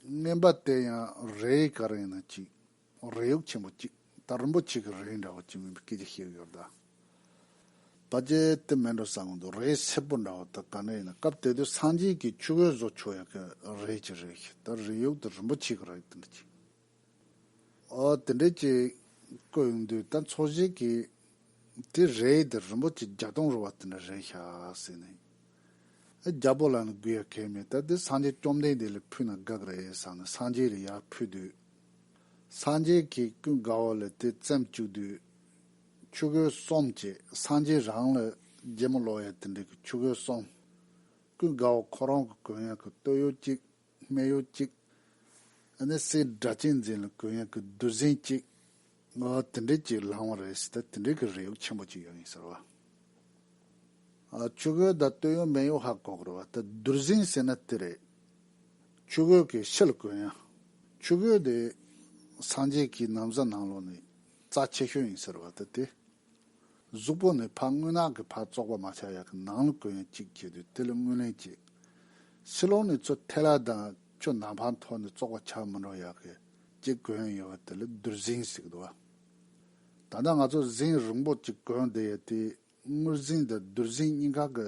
བསྙེན་པ་དེ་ཡང་རེ་ག་རེ་ཡིན་ན་གཅིག། རེ་ཡོག་ཆེན་པོ་གཅིག་ད་རིན་པོ་ཆེ་གི་རེ་འདྲ་བ་གཅིག་མིན་པའི་སྐད་ཆ་ཤེས་གི་ཡོད་ད། ད་རྗེ་དེ་མེད་འགྲོ་ས་གོང་དུ་རེ་སེར་པོ་འདྲ་བ་ད་ག་འདྲ་ཡིན་ན་སྐབས་དེ་དུས་སངས་རྒྱས་ཀྱི་ཆུ་བོའི་བཟོ་ཆོག་ཡག་གི་རེ་གཅིག་རེ་ཤི་ད་རེ་ཡོག་དུ་རིན་པོ་ཆེ་གི་རེ་དེ་འདྲ་གཅིག། དེ་འདྲའི་ཅིག་བཀོད་འདུག་ད་འཚོ་བཞེས་ཀྱི་དེ་རེད་དེ་རིན་པོ་ཆེ་བརྒྱ་སྟོང་རུ་བ་དེ་འདྲ་རེད་ཤག་ཟེར་ནས་རྒྱ་པོ་ལ་ནི་སྒུག་ཡ་གལ་མེད་ད་དེ་སངས་རྒྱས་བཅོམ་ལྡན་འདས་ལ་ཕུལ་ན་དགག་རེད་བསམ་ནས་སངས་རྒྱས་ལ་ཡར་ཕུལ་དུས། སངས་རྒྱས་ཀྱིས་ཀུན་དགའ་བོ་ལ་དེ་བཙེམས་བཅུག་དུས། ཆུ་གོས་གསོམ་ཅེས་སངས་རྒྱས་རང་ལ་རྒྱལ་མོ་ལོ་ཡ་དེ་འདྲས་ཀྱི་ཆུ་གོས་གསོམ། ཀུན་དགའ་བོ་ཁོ་རང་གི་གོས་ཡང་གི་སྟོད་གཡོགས་གཅིག་སྨད་གཡོགས་གཅིག། ནི་གསེར་སྦྲ་གཅན་འཛིན་ལ་གོས་ཡང་གི་བདུད་ཟན་གཅིག། ང་དེ་འདྲས་ཅིག་བླང་བར་རེ་ཞིག་ད་དེ་འདྲས་ཀྱི་རས་ཡོག་ཆེན་པོ་ཅིག་ཡོད་ཡིན་ཟེར་བ། ཆུ་གོས་དང་སྟོད་གཡོགས་སྨད་གཡོགས་ཧ་གོ་དགོས་རེད་བ་ད་བདུར་ཟན་ཟེར་ན་དེ་རེད། ཆུ་གོས་ཀྱི་ཕྱི་ལ་གོས་ཡང། ཆུ་གོས་དེ། སངས་རྒྱས་ཀྱིས་ནམ་བཟའ་ནང་ལོགས་ནས་རྩ་ཆེ་ཤོས་ཡིན་ཟེར་བ་ད་དེ། གཟུགས་པོ་ནས་ཕར་རྔུལ་ནག་གི་བར་བཙོག་པ་མ་ཆགས་ཡག་གི་ནང་ལ་གོས་ཡན་གཅིག་བྱས་དུས་དེ་ལ་རྔུལ་ལེན་བྱེད། ཕྱི་ལོགས་ནས་ཚོད་ཐལ་ལ་དང་ཁྱོད་ནང་ཕང་ཐོག་ནས་བཙོག་པ་ཆགས་མི་འགྲོ་ཡག་གི་ཅེས་གོས་ཡན་ཡོད་པ་དེ་ལ་བདུད་གཟིངས་ཞིག་འདུག་ཨ། ད་ལྟ་ང་ཚོ་གཟིངས་རིང་པོ་གཅིག་གོན་བསྡད་ཡོད་དུས་རྔུལ་གཟིངས་དང་བདུད་གཟིངས་གཉིས་ཀ་གི་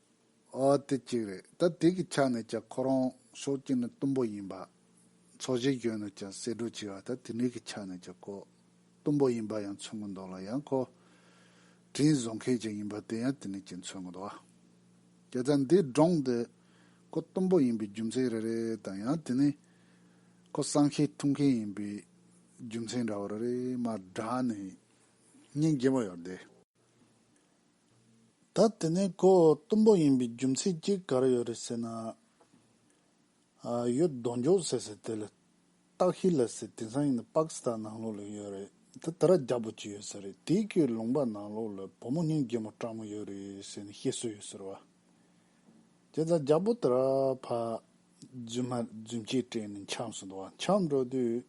ཨ་དེ་གཅིག་རེད་ད་དེ་གི་ཆ་ནས་ཀྱང་ཁོ་རང་ཤོག་སྐྱིད་ནི་གཏུམ་པོ་ཡིན་པ། ཚོགས་གཞི་གཞོན་ནུ་ཀྱང་གསེད་བཀྲོལ་བྱས་བ་ད་དེ་གཉིས་ཀྱི་ཆ་ནས་ཀྱང་ཀོ། གཏུམ་པོ་ཡིན་པ་ཡང་མཚོན་གྱི་འདུག་ལ་ཡང་ཁོ། དྲིན་བཟོ་མཁན་ཅིག་ཡིན་པ་དེ་ཡང་དེ་ནས་ཀྱིས་མཚོན་གྱི་འདུག་ཨ། ཀྱེ་ད་འདི་སྒྲོངས་འདི། ཁོ་གཏུམ་པོ་ཡིན་པའི་རྒྱུ་མཚན་རེ་རེ་དང་ཡང་དེ་ནི། ཁོ་གསང་ཤེད་ཐུབ་མཁན་ཡིན་པའི་རྒྱུ་མཚན་འདྲ་བོ་རེ་རེ་མར་བསྒྲགས་ནས། སྙིང་རྗེ་མོ་ཡོད་དེ། ད་དེ་ནས་ཁོ་གཏུམ་པོ་ཡིན་པའི་རྒྱུ་མཚན་གྱིས་ག་རེ་ཡོད་རེད་ཟེར་ན། ཨ་ཡོད་རྡོ་འགྱོག་ཟེར་ཟེར་དེ་ལ་བརྟག་ཤེས་ལ་ཟེར་དེང་སང་ཡིན་ན་པག་སི་ཐན་ནང་ལོགས་ལ་ཡོད་རེད་ད་དེ་ར་རྒྱ་པོ་གཅིག་ཡོད་ཟེར་རེད་དེའི་ཁོའི་ལུང་པ་ནང་ལོགས་ལ་བུ་མོ་སྙིང་རྗེ་མོ་སྤྲང་མོ་ཡོད་རེད་ཟེར་ནས་བཤད་སྲོལ་ཡོད་ཟེར་བ། དེ་ད་རྒྱ་པོ་དེ་ར་ཕ་རྫུན་མ་རྫུན་སྐྱེས་སྤྲད་ནས་འཁྱམས་སུ་འདུག་བ་འཁྱམས་འགྲོ་དུས།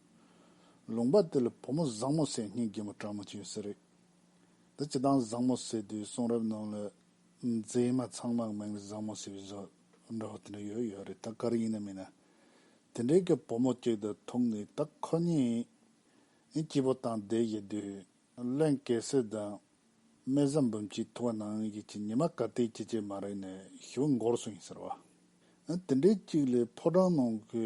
ལུང་པ་དེ་ལ་བུ་མོ་བཟང་མོ་སེར་སྙིང་རྗེ་མོ་སྤྲང་མོ་གཅིག་ཡོད་ཟེར་རེད། འདི་ཅི་དང་བཟང་མོ་བསད་དུས་གསུང་རབ་ནང་ལ། མཛེས་མ་ཚང་མ་མིང་བཟང་མོ་ཟེར་བའི་བཟོ་འདྲ་བོ་དེ་འདྲ་ཡོད་ཡོད་རེད་ད་གར་ཡིན་ན་མིན་ན། དེ་འདྲའི་གི་བུ་མོ་ཅིག་དང་ཐུག་ནས་ད་ཁོ་གཉིས་སྐྱིད་པོ་དང་བསྡད་བཞིན་དུས། བློན་གེ་སི་དང་སྨད་བཟའ་འབུམ་གྱིས་ཐུག་བ་ནང་གི་གྱི་ཉི་མ་ག་དེའི་སྐྱིད་ཆད་མ་རེག་ནས་ཞི་བ་འགོར་སོང་ཡིན་ཟེར་བ། དེ་འདྲའི་ཅིག་ལས་ཕོ་བྲང་ནང་གི་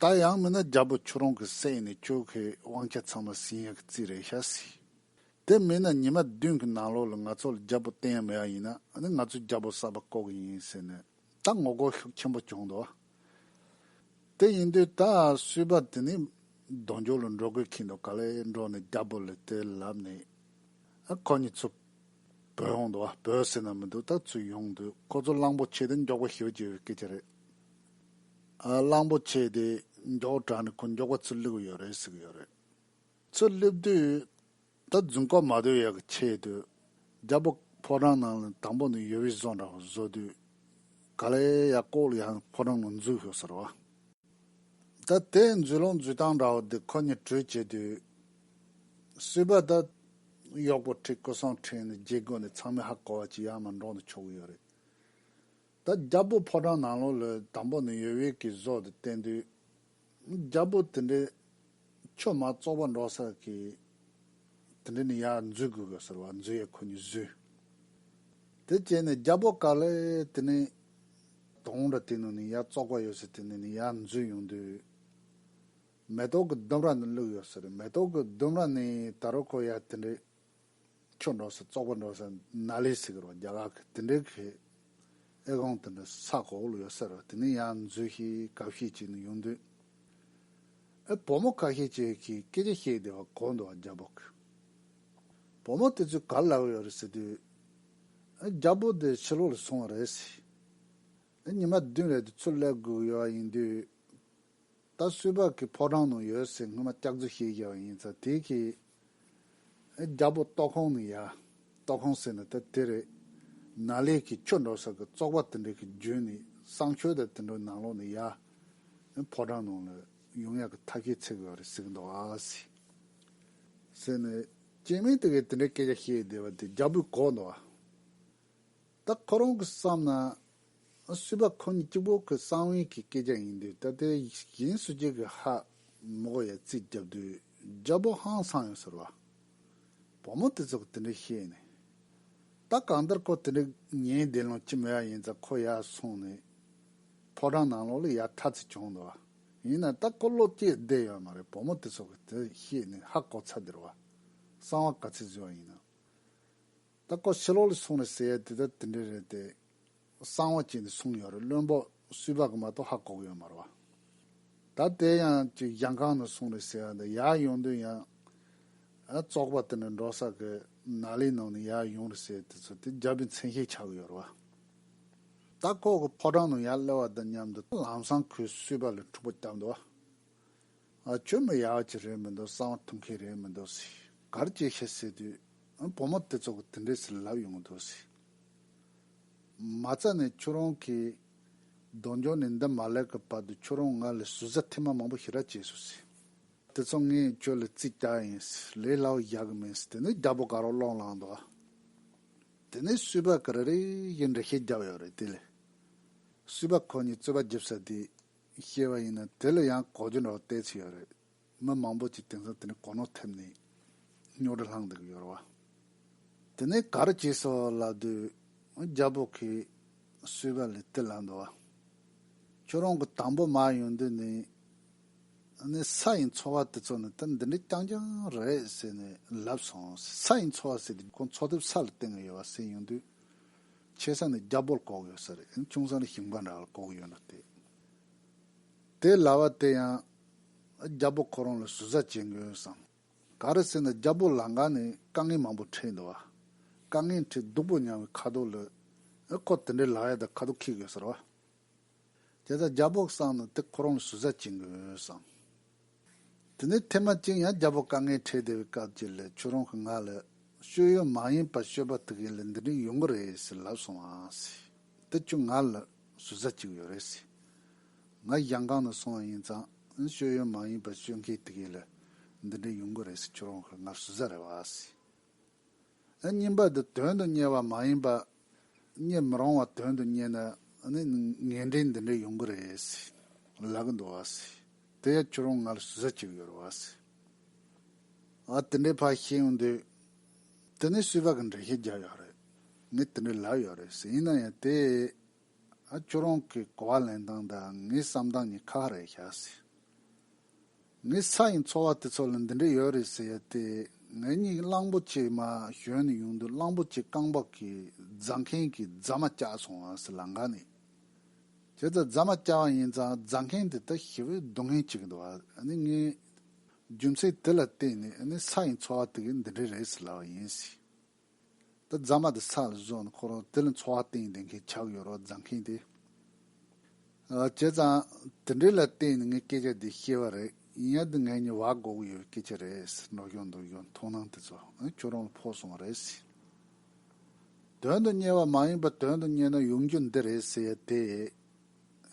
ད་ཡང་མིན་ན་རྒྱལ་པོ་ཁྱོད་རང་གི་སྲས་ཡིན་ནས་ཁྱོད་གི་དབང་ཆ་ཚང་མ་སིང་ཡ་གི་རྩིས་རེད་ཤག་སི། དེ་མིན་ན་ཉི་མ་བདུན་གི་ནང་ལོགས་ལ་ང་ཚོ་ལ་རྒྱལ་པོ་བསྟན་ཡ་མེད་ཡ་ཡིན་ན་ང་ཚོས་རྒྱལ་པོ་གསར་པ་བསྐོ་གི་ཡིན་ཟེར་ནས་ད་ངོ་རྒོལ་ཤུགས་ཆེན་པོ་བྱུང་འདུག་དེ་ཡིན་དུས་ད་སུས་པ་དེ་ནི་གདོང་འཇོག་ལ་འགྲོ་དགོས་ཁེལ་འདུག་ག་ལེ་འགྲོ་ནས་རྒྱལ་པོ་ལ་དེ་ལབ་ནས་ཁོ་གཉིས་ཚུར་བོས་འོང་འདུག་བོས་ཟེར་ན་མི་འདུག་ད་ཚུར་ཡོང་དུས་ཁོ་ཚོ་གླང་པོ་ཆེ་དེ་མགྱོགས་པོ་ཞི་བ་བྱས་པའི་སྐད་ཆ་རེད་གླང་པོ་ཆེ་དེ་མགྱོགས་དྲགས་ནས་ཁོ་མགྱོགས་པ་ཚུར་བསླེབས་ཡོད་རེད་ཟེར་གྱི་ཡོད་རེད། ཚུར་བསླེབས་དུས་ད་རྫུན་རྐོ་མ་སྡོད་ཡག་གི་ཆེད་དུ་རྒྱ་བོད་ཕོ་བྲང་ནང་ལ་དང་པོ་ནས་ཡོལ་བས་བཟོ་འདྲ་བ་བཟོ་དུས་ག་ལེ་ཡག་ལྐོག་ལ་ཡང་ཕོ་བྲང་ནང་འཛུལ་ཤོག་ཟེར་བ། ད་དེ་འཛུལ་ལོང་འཛུལ་སྟངས་འདྲ་བོ་འདི་ཁོ་གཉིས་གྲོས་བྱེད་དུས་སུས་པ་ད་གཡོག་པོ་ཁྲི་སྐུ་སྲོང་ཁྲི་ནས་རྗེས་དགོས་ནས་ཚང་མས་ཧ་གོ་བ་ཅི་ཡང་མ་འགྲོགས་ནས་ཆོག་གི་ཡོད་རེད། ད་རྒྱ་བོད་ཕོ་བྲང་ནང་ལོ་ལོའི་དང་པོ་ནས་ཡོད་ཡོད་ཀྱི་བཟོ་དེ་བསྟན་དུས། རྒྱ་བོད་དེ་འདྲའི་ཆོས་མ་རྩོག་པ་འགྲོ་སར་གྱི་དེ་འདྲའི་ནི་ཡར་འཛུལ་དགོས་གི་ཟེར་བ་འཛུལ་ཡས་ཁོ་གཉིས་བཟོས། དེ་བྱས་ནས་རྒྱ་བོད་ག་ལེ་དེ་ནི་དོང་འདྲ་དེ་ནང་ནས་ཡར་རྩོག་པ་ཡོད་ཟེར་དེ་ནས་ནི་ཡར་འཛུལ་ཡོང་དུས། མེ་ཏོག་གི་ལྡུམ་ར་ནི་བླུགས་ཡོད་ཟེར་མེ་ཏོག་གི་ལྡུམ་ར་ནི་ད་རུ་ཁོ་ཡར་དེ་འདྲའི་ཁྱོད་འགྲོ་སོང་བཙོག་པ་འགྲོ་སོང་ནག་ལས་ཟེར་གི་རོ་རྒྱ་གར་གི་དེ་འདྲའི་གི་ཨེ་ཀོང་དེ་འདྲ་ས་གོག་ལ་ཡོད་ས་རེད་དེ་ནས་ཡང་མཛོད་ཤེས་གབ་ཤེས་ཅིག་ནས་ཡོང་དུས་ཨེ་བུ་མོ་ཀ་ཤེས་ཅིག་གིས་སྐད་ཆ་བཤད་བསྡད་པ་གོ་འདུག་རྒྱ་བོ་གིས་བུ་མོ་དེ་ཚོས་ག་ལ་ལབ་ཡོད་རེད་ཟེར་དུས་ཨེ་རྒྱ་བོ་དེ་ཕྱི་ལོག་ལ་སོང་བ་རེད་ཟེར་ཨེ་ཉི་མ་བདུན་རེད་དུས་ཚོད་ལས་བསྒུག་ཡོད་ཡིན་དུས། ད་སུས་བག་གི་ཕོ་བྲང་ནང་ཡོད་ཟེར་སྔོན་མ་སྐྱག་རྫུན་བཤད་རྒྱ་བ་ཡིན་ཚ་དེ་གི། རྒྱ་བོད་ལྟོག་ཁོང་ནི་ཡ། ལྟོག་ཁོང་ཟེར་ནི་ད་དེ་རེད། ན་ལས་ཀྱི་ཁྱོ་འགྲོ་ས་གི་བཙོག་པ་དེ་འདྲ་གི་རྒྱུན་ནི་སང་ཁྱོ་ད་དེ་འདྲོ་ནང་ལོག་ནི་ཡ། ཕོ་བྲང་ནང་ལ་ཡུང་ཡ་གི་ཐ་ཁེ་ཚེ་གི་བ་རེད་ཟེར་གི་འདུག་ཨ་སི། ཟེར་ནི། སྐྱེས་དམན་དེ་གི་དེ་འདྲ་སྐད་ཆ་བཤད་བསྡད་བ་དེ་རྒྱ་བོད་གོ་འདུག་ཨ། ད་ཁོ་རང་གིས་བསམ་ན། སུས་པ་ཁོ་གཉིས་གཅིག་པོ་ཁོའི་གསང་བའི་གི་སྐད་ཆ་ཡིན་དུས་ད་ལྟའི་གཞན་སུ་གཅིག་གིས་ཧ། མོ་གོ་ཡ་རྩིས་བརྒྱབ་དུས་རྒྱ་བོ་ཧང་སང་ཡོད་ཟེར་བ། བུ་མོ་དེ་ཚོ་གིས་དེ་འདྲ་བཤད་ནས། ད་གང་ལྟར་ཁོ་དེ་འདྲ་ངའི་བདེན་ལུགས་ཅི་མོ་ཡ་ཡིན་ཙང་ཁོ་ཡར་སོང་ནས། ཕོ་བྲང་ནང་ལོགས་ལ་ཡར་ཐར་ཚུལ་བྱུང་འདུག་བ། ཡིན་ནའི་ད་ཁོ་བློ་སྐྱེས་བསྡད་ཡོད་མ་རེད་བུ་མོ་དེ་ཚོ་གིས་དེ་བཤད་ནས་ཧ་གོ་ཚར་དེར་བ། གསང་བ་ག་ཚོད་བཟོས་བ་ཡིན་ནམ། ད་སྐོར་ཕྱི་ལོག་ལ་སོང་རེད་ཟེར་ཡ་དེ་ད་དེ་འདྲ་རེད་དེ། གསང་བ་བྱས་ནས་སོང་ཡོད་རེད་བློན་པོ་སུས་བ་གི་མ་གཏོགས་ཧ་གོ་གི་ཡོད་མ་རེད་བ། ད་དེ་ཡང་ཅིག་གཞང་ཁང་ནས་སོང་རེད་ཟེར་ཡ་དེ་ཡར་ཡོང་དུས་ཡང། བཙོག་པ་དེ་འདྲ་འགྲོ་ས་གི་ན་ལའི་ནང་ནས་ཡར་ཡོང་རེད་ཟེར་དེ་ཚོ་དེ་རྒྱབ་པའི་མཚན་ཤས་ཆགས་གི་ཡོད་རེད་བ། ད་ཁོག་གི་ཕོ་བྲང་ནང་ཡར་སླེབས་བ་དང་མཉམ་དུ་ལམ་སང་ཁོས་སུས་བ་ལ་འཁྲུག་པ་བརྒྱབ་འདུག་བ། ཨ་ཁྱོད་མི་ཡག་གཅིག་རེད་མི་འདུག་གསང་བ་ཐུབ་མཁན་རེད་མི་འདུག་སི་གར་ཅིག་བཤད་སྲིད་དུས་བུ་མོ་དེ་ཚོ་གི་དེ་འདྲས་སི་ལབ་ཡོང་འདུག་སི། མ་རྩ་ནས་ཁྱོད་རང་གིས་གདོང་འཇོག་ནས་འདི་མ་ལས་ཀི་བར་དུ་ཁྱོད་རང་ང་ལ་ཟུར་ཟ་ཐེངས་མ་མང་པོ་ཞིག་ར་བྱས་སོང་སི། དེ་ཚོ་ངས་ཁྱོད་ལ་རྩིས་རྒྱག་ཡིན་སི་ལས་སླ་བོ་རྒྱག་གི་མིན་སི་དེ་ནས་རྒྱ་པོ་ག་རོག་སློང་ལངས་འདུག་ཨ། དེ་ནས་བསུས་པ་ག་རེ་རེ་ཞིག་འབྲི་ཤེས་རྒྱབ་ཡོད་རེད་དེ་ལས་བསུས་པ་ཁོ་གཉིས་རྩོད་པ་རྒྱབ་ས་དེ་ཤེས་པ་ཡིན་ན་དེ་ལ་ཡང་གོ་རྒྱུ་འདྲ་བོ་གཏད་ཆེ་ཡོད་རེད། མི་མང་པོ་ཅིག་དེང་སང་དེ་ནས་གོ་ནོར་ཐེབས་ནས་སྨྱོ་འདྲ་ལྷང་འདུག་ཡོད་རེད་བ། དེ་ནས་ག་རེ་བྱས་སོ་ལབ་དུས་རྒྱ་བོད་ཁའི་གསུས་པ་ལས་དེ་ལབ་འདུག་བ། ཁྱོད་རང་གི་དང་པོ་མ་ཡོང་དུས་ནས་ནས་ས་ཡི་འཚོ་བ་དེ་ཚོ་ནི་ད་འདི་འདྲའི་རྐྱང་རྐྱང་རེད་ཟེར་ནས་ལབ་སོང། ས་ཡི་འཚོ་བ་ཟེར་དུས་ཁོང་འཚོ་ཐེབས་ས་ལ་བལྟས་ངེས་ཡོད་བ་ཟེར་ཡོང་དུས། ཆེ་ས་ནས་རྒྱ་བོད་གོག་ཡོད་ས་རེད་ཅུང་ས་ནས་ཞིང་པ་འདྲ་ལ་གོག་ཡོད་འདུག་སྟེ། དེ་ལ་བ་དེ་ཡང་རྒྱ་བོད་ཁོ་རང་ལ་ཟུར་ཟ་བྱེད་མགོ་ཡོད་བསམ། ག་རེ་ཟེར་ན་རྒྱ་བོད་ལ་འགའ་ནས་དཀའ་ངལ་མང་པོ་འཕྲད་འདུག་བ། དཀའ་ངལ་འཕྲད་སྡུག་པོ་མྱངས་བའི་ཁ་དོག་ལ། ཁོ་དེ་འདྲའི་ལག་ཡ་དང་ཁ་དོག་ཁེག་ཡོད་ས་རེད་བ། དེ་ལྟར་རྒྱ་བོག་བསྲངས་ན་དེ་ཁོ་རང་ལ་ཟུར་ཟ་བྱེད་མཁན་ཡོད་བསམས། དེ་ནས་ཐེངས་མ་གཅིག་ཡང་རྒྱ་བོག་དཀའ་ངལ་འཕྲད་བསྡད་པའི་སྐབས་ཀྱི་ལས་ཁྱོད་རང་གི་ང་ལ་སྤྱོད་ཡོན་མ་ཡིན་པར་སྤྱོད་པ་ཐུག་ཡིན་ལ་འདི་འདྲའི་ཡོང་གི་རེད་ཟེར་ལབ་སོང་ཨ་ཟེར། དེ་ཁྱོད་ང་ལ་ཟུར་ཟ་བྱེད་ཀྱི་ཡོད་རེད་ཟེར། ང་གཞང་ཁང་ནས་སོང་བ་ཡིན་ཙང་སྤྱོད་ཡོན་མ་ཡིན་པར་སྤྱོད་མཁན་ཐུག་ཡིན་ལ་འདི་འདྲའི་ཡོང་གི་རེད་ཟེར་ཁྱོད་རང་གི་ང་ལ་ཟུར་ཟ་རེད་བ་ཟེར། ཨ་སྙིང་པ་འདི་དོན་དུ་གཉེར་བ་མ་ཡིན་པར་རྙེད་མི་རུང་བ་དོན་དུ་རྙེད་ན་ནི་ངན་འབྲས་འདི་འདྲ་ཡོང་གི་རེད་ཟེར་ལབ་ཀི་འདུག་ཟེར་དེ་ཡང་ཁྱོད་རང་ང་ལ་ཟུར་ཟ་བྱེད་ཀྱི་ཡོད་རེད་ཟེར། ཨ་དེ་འདྲའི་ཕར་ཤེས་ཡོང་དུས་དེ་ནི་སུས་བག་གི་འགྲེལ་བཤད་རྒྱག་ཡོད་རེད། ངས་དེ་འདྲ་ལབ་ཡོད་རེད་ཟེར་ཡིན་ན་ཡང་དེ་ཨ་ཁྱོད་རང་གི་གོ་བ་ལེན་སྟངས་དང་ངའི་བསམ་སྟངས་གཉིས་ཁག་རེད་ཤག་ཟེར། ངའི་ས་ཡི་འཚོ་བ་དེ་ཚོ་ལ་འདི་འདྲ་ཡོད་རེད་ཟེར་ཏེ་ངའི་སྙིང་གླང་པོ་ཆེ་མ་གཞོན་ནས་ཡོང་དུས་གླང་པོ་ཆེ་རྐང་འབག་གིས་རྫ་མཁན་གྱི་རྫ་མ་བཀྱགས་སོང་བ་སི་ལང་ག་ནས་བྱས་ཙང་རྫ་མ་བཀྱགས་པ་ཡིན་ཙང་རྫ་མཁན་དེ་དག་ཞི་བའི་སྡུག་བསྔལ་ཅིག་གི་འདུག་ཨ་ནི་ངའི་རྒྱུ་མཚན་དེ་ལ་བརྟེན་ནས་ཨ་ནི་ས་ཡི་འཚོ་བ་དེ་གི་འདི་འདྲ་རེད་ཟེར་ལབ་པ་ཡིན་སྲིད། དེ་རྫ་མ་དེ་ས་ལ་བཟོས་ནས་འཁོར་རོགས་དེ་ལ་འཚོ་བ་སྟེང་བསྡད་མཁན་ཆགས་ཡོད་རོགས་རྫ་མཁན་དེ་བྱས་ཙང་དེ་འདྲའི་ལ་བརྟེན་ནས་ངས་སྐད་ཆ་འདི་བཤད་པ་རེད་ཡིན་ཡང་འདི་ངའི་ཉེ་བར་འགོག་གི་ཡོད་པའི་སྐད་ཆ་རེད་འགྲོ་གི་འདུག་གི་མཐོང་སྣང་དེ་ཚོ་ཁྱོད་རང་ལ་ཕོག་སོང་བ་རེད། དོན་དུ་གཉེར་བ་མ་ཡིན་པར་དོན་དུ་གཉེར་ན་ཡོང་རྒྱུ་འདི་རེད་ཟེར་ཡས་དེ་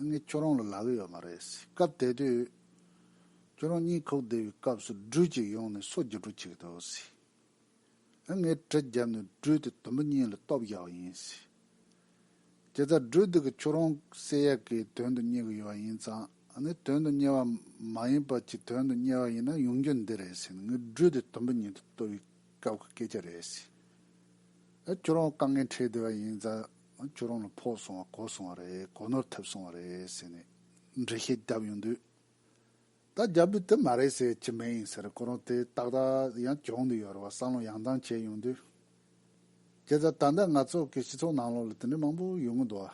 ངས་ཁྱོད་རང་ལ་ལབ་ཡོད་མ་རེད་སྐབས་དེ་དུས་ཁྱོད་རང་གཉིད་ཁུག་བསྡད་པའི་སྐབས་སུ་སྦྲུལ་ཅིག་ཡོང་ནས་སོ་རྒྱུ་སྒྲོ་བྱེད་ཀྱི་འདུག། ངས་གྲི་བརྒྱབ་ནས་སྦྲུལ་དེ་དུམ་བུ་གཉིས་ལ་སྟོབས་བཞག་ཡིན། ཁྱེད་ཚ་སྦྲུལ་དེ་གི་ཁྱོད་རང་གསལ་ཡག་གི་དོན་དུ་གཉེར་གི་ཡོད་ཡིན་ཙང་དོན་དུ་གཉེར་བ་མ་ཡིན་པ་གྱི་དོན་དུ་གཉེར་བ་ཡིན་ན་ཡོང་རྒྱུ་འདི་རེད་ཟེར་ནས་ངས་སྦྲུལ་དེ་དུམ་བུ་གཉིས་དུ་གཏོར་བའི་སྐབས་ཀྱི་སྐད་ཆ་རེད། ཁྱོད་རང་དཀའ་ངལ་འཕྲད་བསྡད་པ་ཡིན་ཙང་ཁྱོད་རང་ལ་ཕོག་སོང་བ་གོ་སོང་བ་རེད་གོ་ནོར་ཐེབས་སོང་བ་རེད་ཟེར་ནས་འགྲེལ་བཤད་བརྒྱབ་ཡོང་དུས། ད་རྒྱ་བོད་དེ་མ་རེད་ཟེར་གྱི་མེད་ཡིན་ཟེར་ཁོ་རང་དེ་ཏག་ཏག་ཡང་གྱོང་དུ་ཡོད་རེད་བ་བསམ་བློ་ཡང་དྭངས་བྱས་ཡོང་དུས། ཁྱེད་ད་ལྟ་ང་ཚོ་གི་སྤྱི་ཚོགས་ནང་ལོག་ལ་དེ་འདྲ་མང་པོ་ཡོང་གི་འདུག་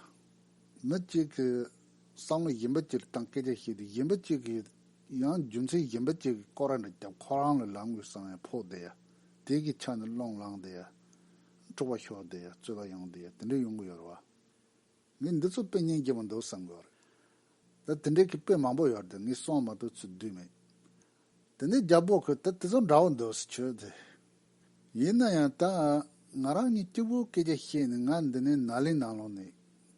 བ། མི་གཅིག་གི་བསམ་བློ་གཞན་པ་གཅིག་ལ་བཏང་སྐད་ཆ་བཤད་དུས་གཞན་པ་གཅིག་གིས་ཡང་རྒྱུ་མཚན་གཞན་པ་གཅིག་གི་སྐོར་ར་འདྲ་རྒྱབ་ཁོ་རང་ལ་ལང་དགོས་བསམ་ཡང་ཕོག་བསྡད་ཡ་དེ་གི་ཆ་ནས་སློང་ལང་བསྡད་ཡ། འཁྲུག་པ་ཤོར་བསྡད་ཡ་རྩོད་པ་ཡོང་བསྡད་ཡ་དེ་འདྲ་ཡོང་གི་ཡོད་རེད་བ། ངས་འདི་ཚོ་དཔེ་རྙིང་རྒྱས་པོ་འདུག་བསམ་གི་རེད། ད་དེ་འདྲའི་གི་དཔེ་མང་པོ་ཡོད་དེ་ངས་གསང་མ་ཐུབ་ཚུལ་དུས་མེད། དེ་ནས་རྒྱ་བོད་ཁུལ་ད་དེ་ཚོ་འདྲ་བོ་འདུག་ཟེར་ཁྱོད་དེ། ཡིན་ན་ཡང་ད་ང་རང་གཉིས་སྐྱིད་པོའི་སྐད་ཆ་བཤད་ནས་ང་འདི་ནས་ནཱ་ལེ་ནང་ལོགས་ནས།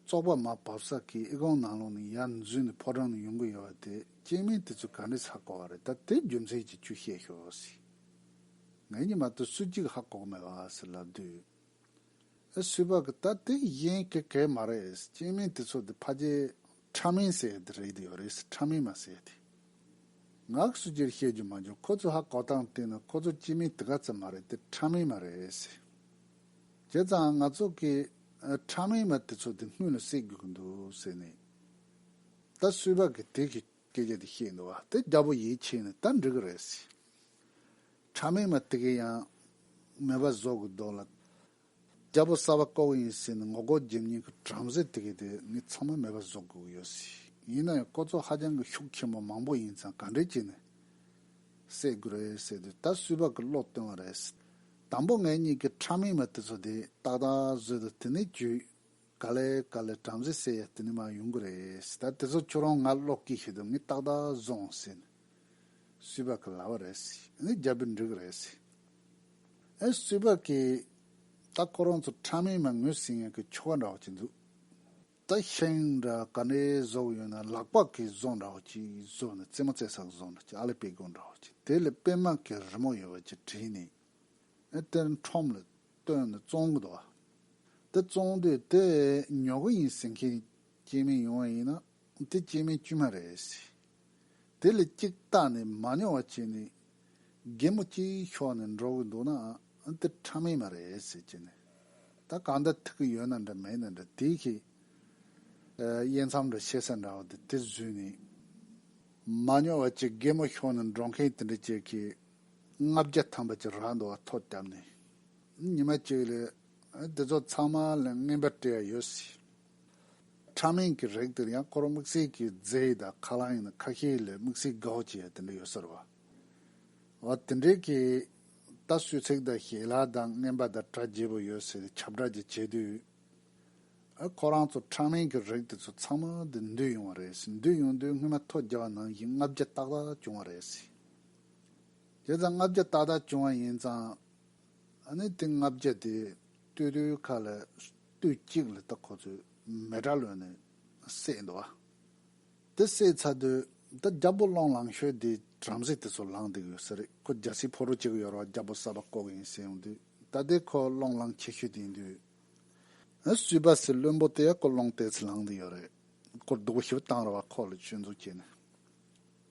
བཙོག་པ་མ་བབས་ས་ཁའི་ཨི་ཀོང་ནང་ལོགས་ནས་ཡར་འཛུལ་ནས་ཕོ་བྲང་ནས་ཡོང་གི་ཡོད་བ་དེ་སྐྱེས་མིང་དེ་ཚོས་ག་འདྲའི་ཚ་གོ་བ་རེད་ད་དེའི་རྒྱུ་མཚན་གྱིས་ཁྱོས་བཤད་ཤོག་ཟེར། ངས་གཉིད་མ་ཐུབ་སུ་གཅིག་ཧ་གོ་གི་མེད་བ་ཟེར་ལབ་དུས། སུས་པ་གི་ད་དེ་གཞན་གི་གས་མ་རེད་སྐྱེས་དམན་དེ་ཚོ་དེ་ཕ་རྗེས་ཕྲ་མིན་ཟེར་ཡ་དེ་རེད་ཡོད་རེད་ཕྲ་མིན་མ་ཟེར་ཡ་དེ། ངག་སུ་གྱེར་བཤད་རྒྱུ་མ་འཇོག་ཁོ་ཚོ་ཧ་གོ་སྟངས་བལྟས་ན་ཁོ་ཚོ་སྐྱེས་དམན་དེ་ག་ཙམ་མ་རེད་དེ་ཕྲ་མིན་མ་རེད། བྱས་ཙང་ང་ཚོ་གི་ཕྲ་མིན་མ་དེ་ཚོ་དེ་སྔུན་ལ་བསད་རྒྱུ་གི་འདུག་ཟེར་ནས་ད་སུས་པ་གི་དེ་གི་སྐད་ཆ་དེ་བཤད་འདུག་བ་དེ་རྒྱ་པོ་ཡིད་ཆེས་ནས་ད་འགྲིག་གི་རེད། ཕྲ་མེན་མ་ཏི་གི་ཡང། མེ་བ་ཟོག་གི་རྡོ་ལ། རྒྱལ་པོ་སྲ་བ་ཀོ་གི་ཡིན་སྲིད་ནི་ངོ་རྒོལ་རྒྱབ་གཉིས་ཀྱི་བྲམ་ཟེ་ཏི་གི་དེ་ནི་ཚང་མ་མེ་བ་ཟོག་དགོས་ཀྱི་ཡོད་སྲིད་ཡིན་ན་ཡང་ཀོ་ཚོ་ཧ་ཅང་གི་ཤུགས་ཆེན་པོ་མང་པོ་ཡིན་ཙང་ག་འདྲས་བྱས་ནས་བསད་དགོས་རེད་ཟེར་དུས་ད་སུས་བག་གི་བློ་བཏོན་བ་རེད། དང་པོ་ངེད་གཉིས་ཀྱི་ཕྲ་མེན་མ་ཏི་ཚོ་དེ་ཏག་ཏག་བཟོས་དུ་དེ་ནས་བྱོས། ག་ལེ་ག་ལེ་བྲམ་ཟེ་སེ་དེ་ནི་མ་ཡོང་གི་རེད་ད་དེ་ཚོ་ཁྱོད་རང་ང་ཀློག་གི་ཤེས་དུ་ངས་ཏག་ཏག་བཟུང་ཟེར་ནས་སུས་པ་གི་ལྭ་བ་རེད་ངས་རྒྱབ་པའི་འགྲིག་རེད་ཟེར་ཨེ་སུས་པ་གི་ད་ཁོ་རང་ཚོ་ཕྲ་མེན་མ་ངོས་ཟིན་ཡང་གི་ཁྱོ་ག་འདྲ་བ་ཅིག་འདུག་ད་ཤིང་འདྲ་ག་འདྲའི་བཟོ་ཡོད་ན་ལག་པ་གི་བཟོ་འདྲ་བ་ཅིག་བཟོས་ནས་རྩེད་མོ་རྩེ་ས་གི་བཟོ་འདྲ་ཅིག་ཨ་ལེ་པེ་གོ་འདྲ་བ་ཅིག་དེ་ལ་པད་མ་གི་རི་མོ་ཡོད་པ་ཅིག་བྲིས་ནས་ཨེ་དེར་འཁྲོམ་ལ་སྟོན་ནས་བཙོང་གི་འདུག་བ། དེ་བཙོང་དུས་དེ་ཉོ་གི་ཡིན་ཟེར་མཁན་སྐྱེས་དམན་ཡོང་བ་ཡིན་ན་དེ་སྐྱེས་དམན་དཀྱུས་མ་རེད། དེ་ལས་གཅིག་བཏགས་ནས་མ་ཉོ་བ་བྱས་ནས་རྒན་མོ་གཅིག་ཤོར་ནས་འགྲོ་གི་འདུག་ན་དེ་ཕྲ་མེན་མ་རེད་ཟེར་གྱི་ནི། ད་གང་འདྲ་ཐུག་གི་ཡོད་ན་འདྲ་མེད་ན་འདྲ་དེ་གི་དབྱེ་མཚམས་འདྲ་ཤེས་ས་འདྲ་བ་དེ་དེ་བཟོས་ནས་མ་ཉོ་བ་གཅིག་རྒན་མོ་ཤོར་ནས་འགྲོ་མཁན་དེ་འདྲ་བྱེད་ཁི། ལྔ་བརྒྱ་ཐམ་པ་ཅིག་རག་འདུག་བ་ཐོ་བརྒྱབ་ནས་ཉི་མ་གཅིག་ལས་དེ་ཚོ་ཚང་མ་ལ་རྔན་པ་སྤྲད་ཡ་ཡོད་སྲིད། ཕྲ་མེན་གི་རེག་དེར་ཡང་ཁོར་དམིགས་བསལ་གི་རྫས་ཡི་དྭགས་ཁ་ལང་ཡིན་ན་ཁ་ཤས་ལས་དམིགས་བསལ་གའོ་བྱེད་ཡ་དེ་འདྲ་ཡོད་ས་རེད་བ། འོ་དེ་འདྲའི་གི་ད་སུས་ཚེག་དང་ཞེ་ལ་དང་རྔན་པ་དང་དྲ་རྒྱས་པོ་ཡོད་ཟེར་ཁྱབ་བསྒྲགས་ཅིག་བྱེད་དུས། ཨ་ཁོ་རང་ཚོ་ཕྲ་མེན་གི་རེག་དེ་ཚོ་ཚང་མ་དེ་འདུས་ཡོང་བ་རེད་སྲིད་འདུས་ཡོང་དུས་རྔན་པ་ཐོ་བརྒྱབ་བ་ནང་བཞིན་ལྔ་བརྒྱ་ཏག་ཏག་བྱུང་བ་རེད་སྲིད། དེ་ཙམ་ལྔ་བརྒྱ་ཏག་ཏག་བྱུང་བ་ཡིན་ཙང། ཨ་ནི་དེ་ལྔ་བརྒྱ་དེ་སྟོད་ཐོའི་ཁ་ལ་སྟོད་གཅིག་ལ་ད་ཁོ་ཚོས་མེ་དྲ་ལོན་ནས་བསད་འདུག་ཨ། དེ་བསད་ཚར་དུས་ད་རྒྱ་བོ་སློང་ལང་ཤོས་དེ་བྲམ་ཟེ་དེ་ཚོ་ལངས་འདུག་ཡོད་ས་རེད་ཁོ་རྒྱ་སྲིད་ཕོ་རོ་གཅིག་ཡོད་རོགས་རྒྱ་བོ་གསར་པ་ལྐོག་ཡིན་ཟེར་ཡོང་དུས་ད་དེ་ཁོ་སློང་ལང་ཆེ་ཤོས་དེ་ཡིན་དུས། ཨ་སུས་པ་སེ་བློན་པོ་དེ་ཡ་ཁོ་སློང་ལྟས་ཚུལ་ལངས་འདུག་ཡོད་རེད་སྐོར་སྡུག་པོ་ཞིག་བཏང་ར་བ་ཁོ་ལ་སྤྱོད་འཛུགས་བྱས་ནས།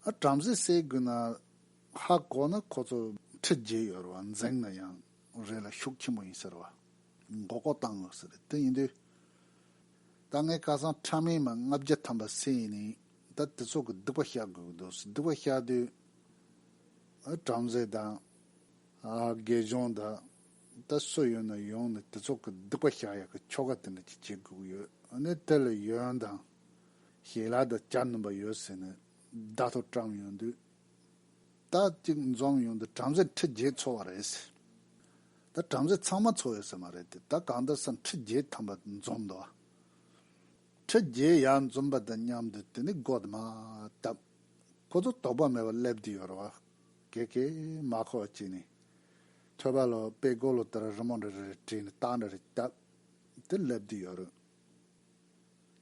ཨ་བྲམ་ཟེ་སྲས་དགུ་ན་ཧ་གོ་ན་ཁོ་ཚོ་ཁྲི་བརྒྱད་ཡོད་རེད་བ་འཛེང་ན་ཡང་རེད་ལ་ཤུགས་ཆེན་པོ་ཡིན་ཟེར་བ་མགོ་སྐོར་བཏང་ཡོད་ཟེར་རེད་དེ་ཡིན་དུས་ད་ངའི་སྐལ་བཟང་ཕྲ་མེན་མ་ལྔ་བརྒྱ་ཐམ་པ་སྲས་ཡིན་ནིས་ད་དེ་ཚོ་གི་སྡིག་པ་བཤགས་དགོས་ཀྱི་འདུག་སྡིག་པ་བཤགས་དུས་ཨ་བྲམ་ཟེ་དང་ཨ་དགེ་སྦྱོང་དང་ད་སུ་ཡོད་ན་ཡོང་ནས་དེ་ཚོ་གི་སྡིག་པ་བཤགས་ཡག་གི་ཁྱོ་ག་དེ་འདྲ་གྱི་བྱེད་དགོས་ཀྱི་ཡོད་ཨ་ནི་དེ་ལ་ཡོན་དང། ཞིག་ལ་དུ་བྱ་ནུམ་པ་ཡོད་ཟེར་ནས་བརྡ་ཐོ་བཀྲམ་ཡོང་དུས། ད་ཅིག་འཛོམས་ཡོང་དུས་བྲམ་ཟེ་ཁྲི་བརྒྱད་འཚོ་བ་རེད་ཟེར། ད་བྲམ་ཟེ་ཚང་མ་འཚོ་ཡོད་ཟེར་མ་རེད་དེ་ད་གང་ལྟར་སམ་ཁྲི་བརྒྱད་ཐམ་པ་འཛོམས་འདུག་ཨ། ཁྲི་བརྒྱད་ཡར་འཛོམས་པ་དང་མཉམ་དུ་དེ་ནི་སྒོ་དུ་མ་བཏབ། ཁོ་ཚོ་དོགས་པ་མེད་པར་སླེབས་ཀྱི་ཡོད་རེད་བ། ཀེ་ཀེ། མ་ཁོག་ཅིག་ནི། ཐོད་པ་ལོ་དཔེ་མགོ་ལོ་ལྟར་རི་མོ་འདྲ་རེ་རེ་བྲིས་ནས་རྟགས་འདྲ་རེ་བཏབ། དེ་སླེབས་ཀྱི་ཡོད་རེད།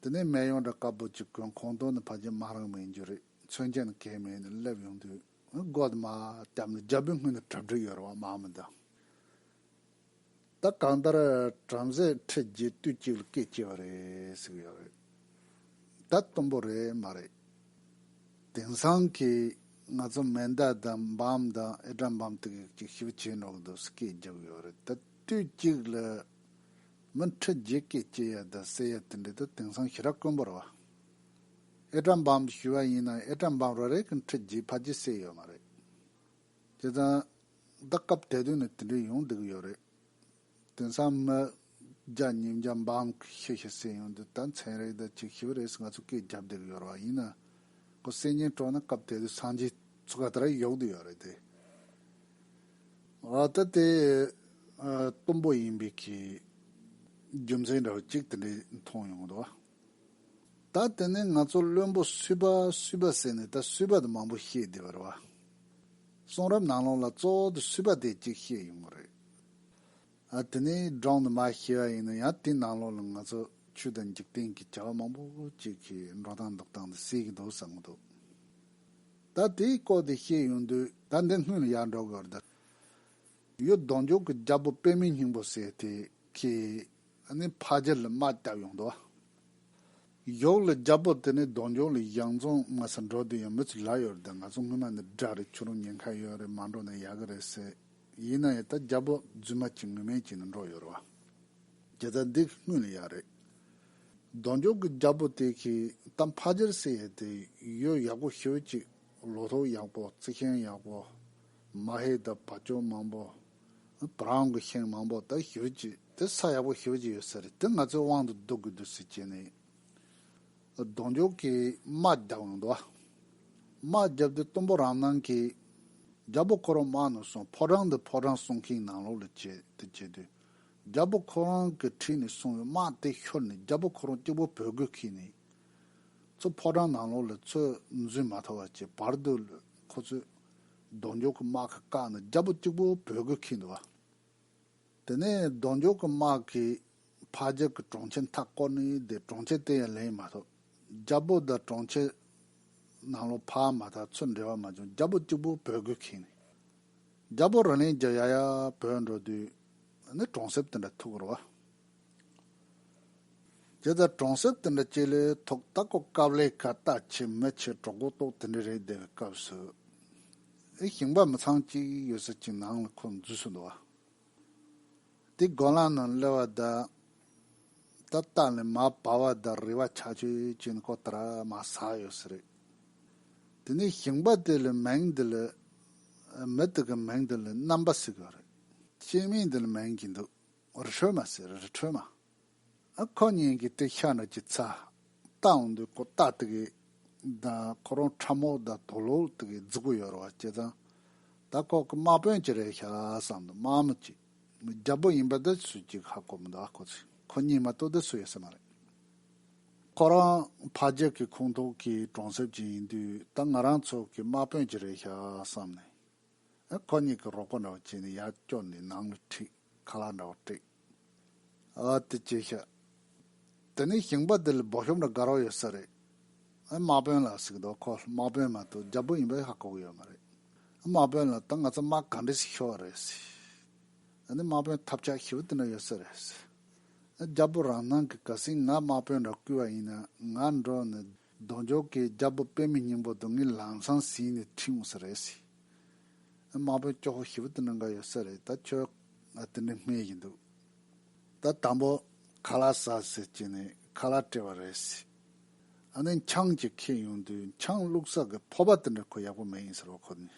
དེ་ནས་སྨད་ཡོངས་གྲགས་བཀའ་པོད་ཅིག་ཀུན་ཁོང་སྟོང་ནི་ཕ་རྗེས་མ་རང་མིང་རྒྱུ་རིགས་མཚོན་ཅན་གད་མས་ནས་སླེབས་ཡོང་དུས་སྒོ་དུ་མ་བཏབ་ནས་རྒྱལ་པོའི་སྔུན་དུ་གྲབ་སྒྲིག་ཡོད་རེ་བ་མང་མི་འདུག་ད་གང་ལྟར་བྲམ་ཟེ་ཁྲི་བརྒྱད་དུས་གཅིག་ལ་སྐད་སྐྱེས་པ་རེད་ཟིག་ཡོད་རེད་ད་གཏུམ་པོ་རེད་མ་རེད་དེང་སང་གི་ང་ཚོ་མེ་མདའ་དང་འབམ་དང་ཨེ་སྒྲ་འབམ་ཏིག་ཡིག་ཅིག་ཞིབ་བྱེད་འགྲོ་གི་འདུག་སྐད་རྒྱག་གི་ཡོད་རེད་ད་དུས་གཅིག་ལ། མི་ཁྲི་བརྒྱད་ཀས་སྐྱེས་ཡ་དང་སྲས་ཡ་དེ་འདྲས་དུ་དེང་སང་ཞི་རགས་དཀོན་པོར་བ་ཨེ་བཀྲ་འབངས་དུ་ཞུས་བ་ཡིན་ནང་ཨེ་བཀྲ་འབངས་རེ་རེ་གི་ཁྲི་བརྒྱད་ཕ་བརྒྱད་སྲས་ཡོད་མ་རེད་བྱས་ཙང་ད་སྐབས་དད་དོན་ནི་དེ་འདྲས་ཡོང་སྡུག་ཡོད་རེད་དེང་སང་མི་བརྒྱ་ཉིས་བརྒྱ་འབངས་གི་ཤི་ཤི་སྲས་ཡོང་དུས་ད་མཚན་རེ་ད་ཅིག་ཤི་བ་རེས་ང་ཚོ་སྐད་རྒྱབ་བསྡད་གི་ཡོད་ར་བ་ཡིན་ནང་ཁོ་སྲས་གཉེན་གྲོགས་ནང་སྐབས་དད་དུས་སངས་རྒྱས་ཚུགས་ག་དེ་ར་ཡོག་དུ་ཡོད་རེད་དེ། ཨ་ད་དེ་གཏུམ་པོ་ཡིན་པའི་ཁའི་རྒྱུ་མཚན་འདྲ་བ་གཅིག་དེ་འདྲའི་མཐོང་ཡོང་གི་འདུག་ད་དེ་ནས་ང་ཚོ་བློན་པོ་སུས་པ་སུས་པ་ཟེར་ནས་ད་སུས་པ་དེ་མང་པོ་ཤེས་བསྡད་པ་རེད་བ། གསུང་རབ་ནང་ལོགས་ལ་གཙོ་བོ་དེ་སུས་པ་དེ་གཅིག་བཤད་ཡོང་གི་རེད། ཨ་དེ་ནས་སྒྲོག་འདི་མ་ཤེས་བ་ཡིན་ན་ཡང་དེ་ནང་ལོགས་ལ་ང་ཚོ་ཆོས་དང་འཇིག་རྟེན་གྱི་བྱ་བ་མང་པོ་ཅིག་གི་འགྲོ་སྟངས་འདུག་སྟངས་དེ་གསལ་གི་འདུག་བསམ་གི་འདུག། ད་དེའི་སྐོར་དེ་བཤད་ཡོང་དུས་ད་འདི་སྔོན་ལ་ཡར་འགྲོ་དགོས་རེད། ཡོད་གདོང་མཆོག་གི་རྒྱལ་པོ་དཔེ་མེད་སྙིང་པོ་ཟེར་དེ་ཁྱེད་ནི་ཕ་རྒྱལ་ལ་དམག་བཏབ་ཡོང་འདུག་ཨ། ཡོག་ལ་རྒྱལ་པོ་དེ་ནི་གདོང་མཆོག་ལ་ཡང་རྫོང་དངོས་སུ་འགྲོ་དུས་ཡང་མི་ཚོས་ལབ་ཡོད་རེད་ང་ཚོ་སྔོན་མ་ནས་དགྲ་རེད་ཁྱོད་རང་ཉེན་ཁ་ཡོད་རེད་མ་འགྲོ་ན་ཡག་གི་རེད་ཟེར། ཡིན་ན་ཡང་ད་རྒྱལ་པོ་རྫུན་མ་གྱིས་ངུ་སྨན་གྱིས་ནས་འགྲོ་ཡོད་རེད་བ། རྒྱལ་ཚ་འདི་སྔོན་ལ་ཡག་རེད། གདོང་མཆོག་གི་རྒྱལ་པོ་དེ་གིས་ད་ཕ་རྗེར་བསྲེ་ཡས་དེ་ཡོད་ཡག་པོ་ཤོད་ཅིག་ལོ་ཐོ་ཡག་པོ་རྩི་མཁན་ཡག་པོ་མ་ཧེ་ད་བ་ཅོ་མང་པོ་བ་རང་གི་ཤིང་མང་པོ་ད་ཤོད་ཅིག་དེ་ས་ཡག་པོ་ཤོད་ཅིག་ཡོད་ཟེར་དེ་ང་ཚོའི་དབང་དུ་བསྡུ་དགོས་འདུག་ཟེར་གྱིས་ནས་གདོང་མཆོག་གིས་དམག་རྒྱག་འོང་འདུག་དམག་བརྒྱབ་དེ་གཏུམ་པོ་རང་སྣང་གིས་རྒྱལ་པོ་ཁོ་རང་དམག་ནང་སོང་ཕོ་བྲང་འདི་ཕོ་བྲང་གསུང་གིན་ནང་ལོག་ལ་བྱས་དེ་བྱས་དུས་རྒྱལ་པོ་ཁོ་རང་གི་ཁྲིད་ནས་སོང་བའི་དམག་དེ་ཤོར་ནས་རྒྱལ་པོ་ཁོ་རང་སྐྱེ་བོ་བོད་རྒོད་ཁྱི་ནས་ཚོ་ཕོ་བྲང་ནང་ལོགས་ལ་ཚོས་འཛུལ་མ་ཐོབ་བ་ཀྱི་བར་དུ་ཁོ་ཚོས་རྡོ་འགྱོགས་ཀྱི་དམག་གི་བཀག་ནས་རྒྱལ་པོ་སྐྱེ་བོ་བོད་རྒོད་ཁྱི་འདུལ་བ། དེ་ནས་རྡོ་འགྱོགས་ཀྱི་དམག་གིས་ཕ་རྒྱལ་གྱི་གྲོང་ཁྱེར་མཐའ་བསྐོར་ནས་བསྡད་གྲོང་ཁྱེར་དེ་ཡང་ལེན་མ་ཐོབ་རྒྱལ་པོ་དང་གྲོང་ཁྱེར་ནང་ལོགས་ཕ་མ་དང་ཚོས་འབྲེལ་བ་མ་བྱུང་རྒྱལ་པོ་སྐྱེ་བོ་བོད་རྒོད་ཁྱི་ནས། རྒྱ་བོད་རང་གླིང་རྒྱ་ཡ་ཡ་བོད་འགྲོ་དུས་ནི་གྲོང་གསེབ་དེ་འདྲ་ཐུག་རོ། དེ་ལྟར་གྲོང་གསེབ་དེ་འདྲ་སྐྱེ་ལོའི་ཐོག་རྟ་སྐོ་སྐབས་ལས་ཀ་རྟ་ཆེ་མི་ཆེ་གྲོགས་གོ་རྟོགས་དེ་འདྲ་རེད་སྡད་པའི་སྐབས་སུ། ཨེ་ཞིང་པ་མི་ཚང་གཅིག་ཡོད་ས་ཅིག་ནང་ལ་ཁོ་འཛུལ་སོང་འདུག་བ། དེ་སྒོ་ལངས་ནང་གླེ་བ་འདི། དེ་ལྟ་ལས་མ་བ་བ་འདི་རེ་བ་ཆགས་ཆོས་ཅན་ཁོ་ད་མ་ཟ་ཡོད་སྲིད། དེ་ནས་ཞིང་པ་དེ་ལས་མིང་འདི་ལས། མི་དེ་གི་མིང་འདི་ལས་རྣམ་པ་སྲིད་གི་རེད། སྐྱེས་མིང་འདི་ལས་མིང་གི་འདུག་རི་ཁྲོད་མ་སྲིད་རི་ཁྲོད་མ། ཁོ་གཉིས་ཀྱི་དྲི་ཤ་ནི་ཅི་ཚ། རྟ་འོང་དུས་ཁོ་རྟ་རྟུག་གི། ད་ཁོ་རང་ཁྲ་མོ་ད་དོ་ལོ་རྟུག་གི་རྫི་གུ་ཡོད་རེ་བ་སྐྱེས་ཙང། ད་ཁོ་གི་དམག་དཔོན་ཅི་རེད་ཤ་བསམ་དུ་དམག་མི་གཅིག་རྒྱ་པོ་ཡིན་པ་དེ་སུ་གཅིག་ཧ་གོ་མི་འདུག་ཨ་ཁོ་ཚོས་ཁོ་གཉིས་མ་གཏོགས་དེ་སུ་ཡོད་ས་མ་རེད། ཁོ་རང་ཕ་རྒྱལ་གྱི་ཁོངས་གཏོགས་ཀྱི་གྲོང་གསེབ་ཅིག་ཡིན་དུས་ད་ང་རང་ཚོ་གི་དམག་དཔོན་ཅི་རེད་ཤ་བསམ་ནས། ཁོ་གཉིས་ཀྱི་རོགས་པ་འདྲ་བོ་བྱས་ནས་ཡར་བསྐྱོར་ནས་ནང་ལ་ཁྲིད། ཁ་ལག་འདྲ་བོ་སྤྲད། ཨ་ཏི་ཅི་ཤ། དེ་ནས་ཞིང་པ་དེ་ལ་སྦོ་ཤོམ་ར་དགའ་རོགས་ཡོད་ས་རེད། དམག་དཔོན་ལགས་ཟིག་འདུག་ཁོ་དམག་དཔོན་མ་གཏོགས་རྒྱ་བོད་ཡིན་པ་ཧ་གོ་གི་ཡོད་མ་རེད། དམག་དཔོན་ལགས་ད་ང་ཚོ་དམག་ག་འདྲས་ཤིག་ཤོར་བ་རེད། ཨ་ནི་དམག་དཔོན་ཐབས་ཆག་ཞི་བ་དེ་འདྲ་ཡོད་ས་རེད། རྒྱ་བོད་རང་སྣང་གི་ག་སྲིད་ང་དམག་དཔོན་འདྲ་བསྐུལ་བ་ཡིན་ན་ང་འགྲོ་ནས་གདོང་མཆོག་གི་རྒྱལ་པོ་དཔལ་མི་སྙིང་པོ་དུང་གི་ལང་ཚང་ཟིན་ནས་ཁྲིད་འོང་ས་རེད། དམག་དཔོན་སྐྱོ་ཧོ་ཞི་བ་དེ་འདྲ་འགའ་ཡོད་ས་རེད་ད་ཁྱོད་དེ་འདྲའི་སྨད་ཀྱི་འདུག་ད་དང་པོ་ཁ་ལག་ཟ་ཟེར་གྱི་ནས་ཁ་ལག་སྤྲད་པ་རེད། ཨ་ནེ་འཆང་གཅིག་ཁྱེད་ཡོང་དུས་འཆང་བླུགས་ས་གི་ཕོར་པ་དེ་འདྲ་ཁོ་ཡག་པོ་མེད་ཡིན་ཟེར་བ་ཁོ་ནས་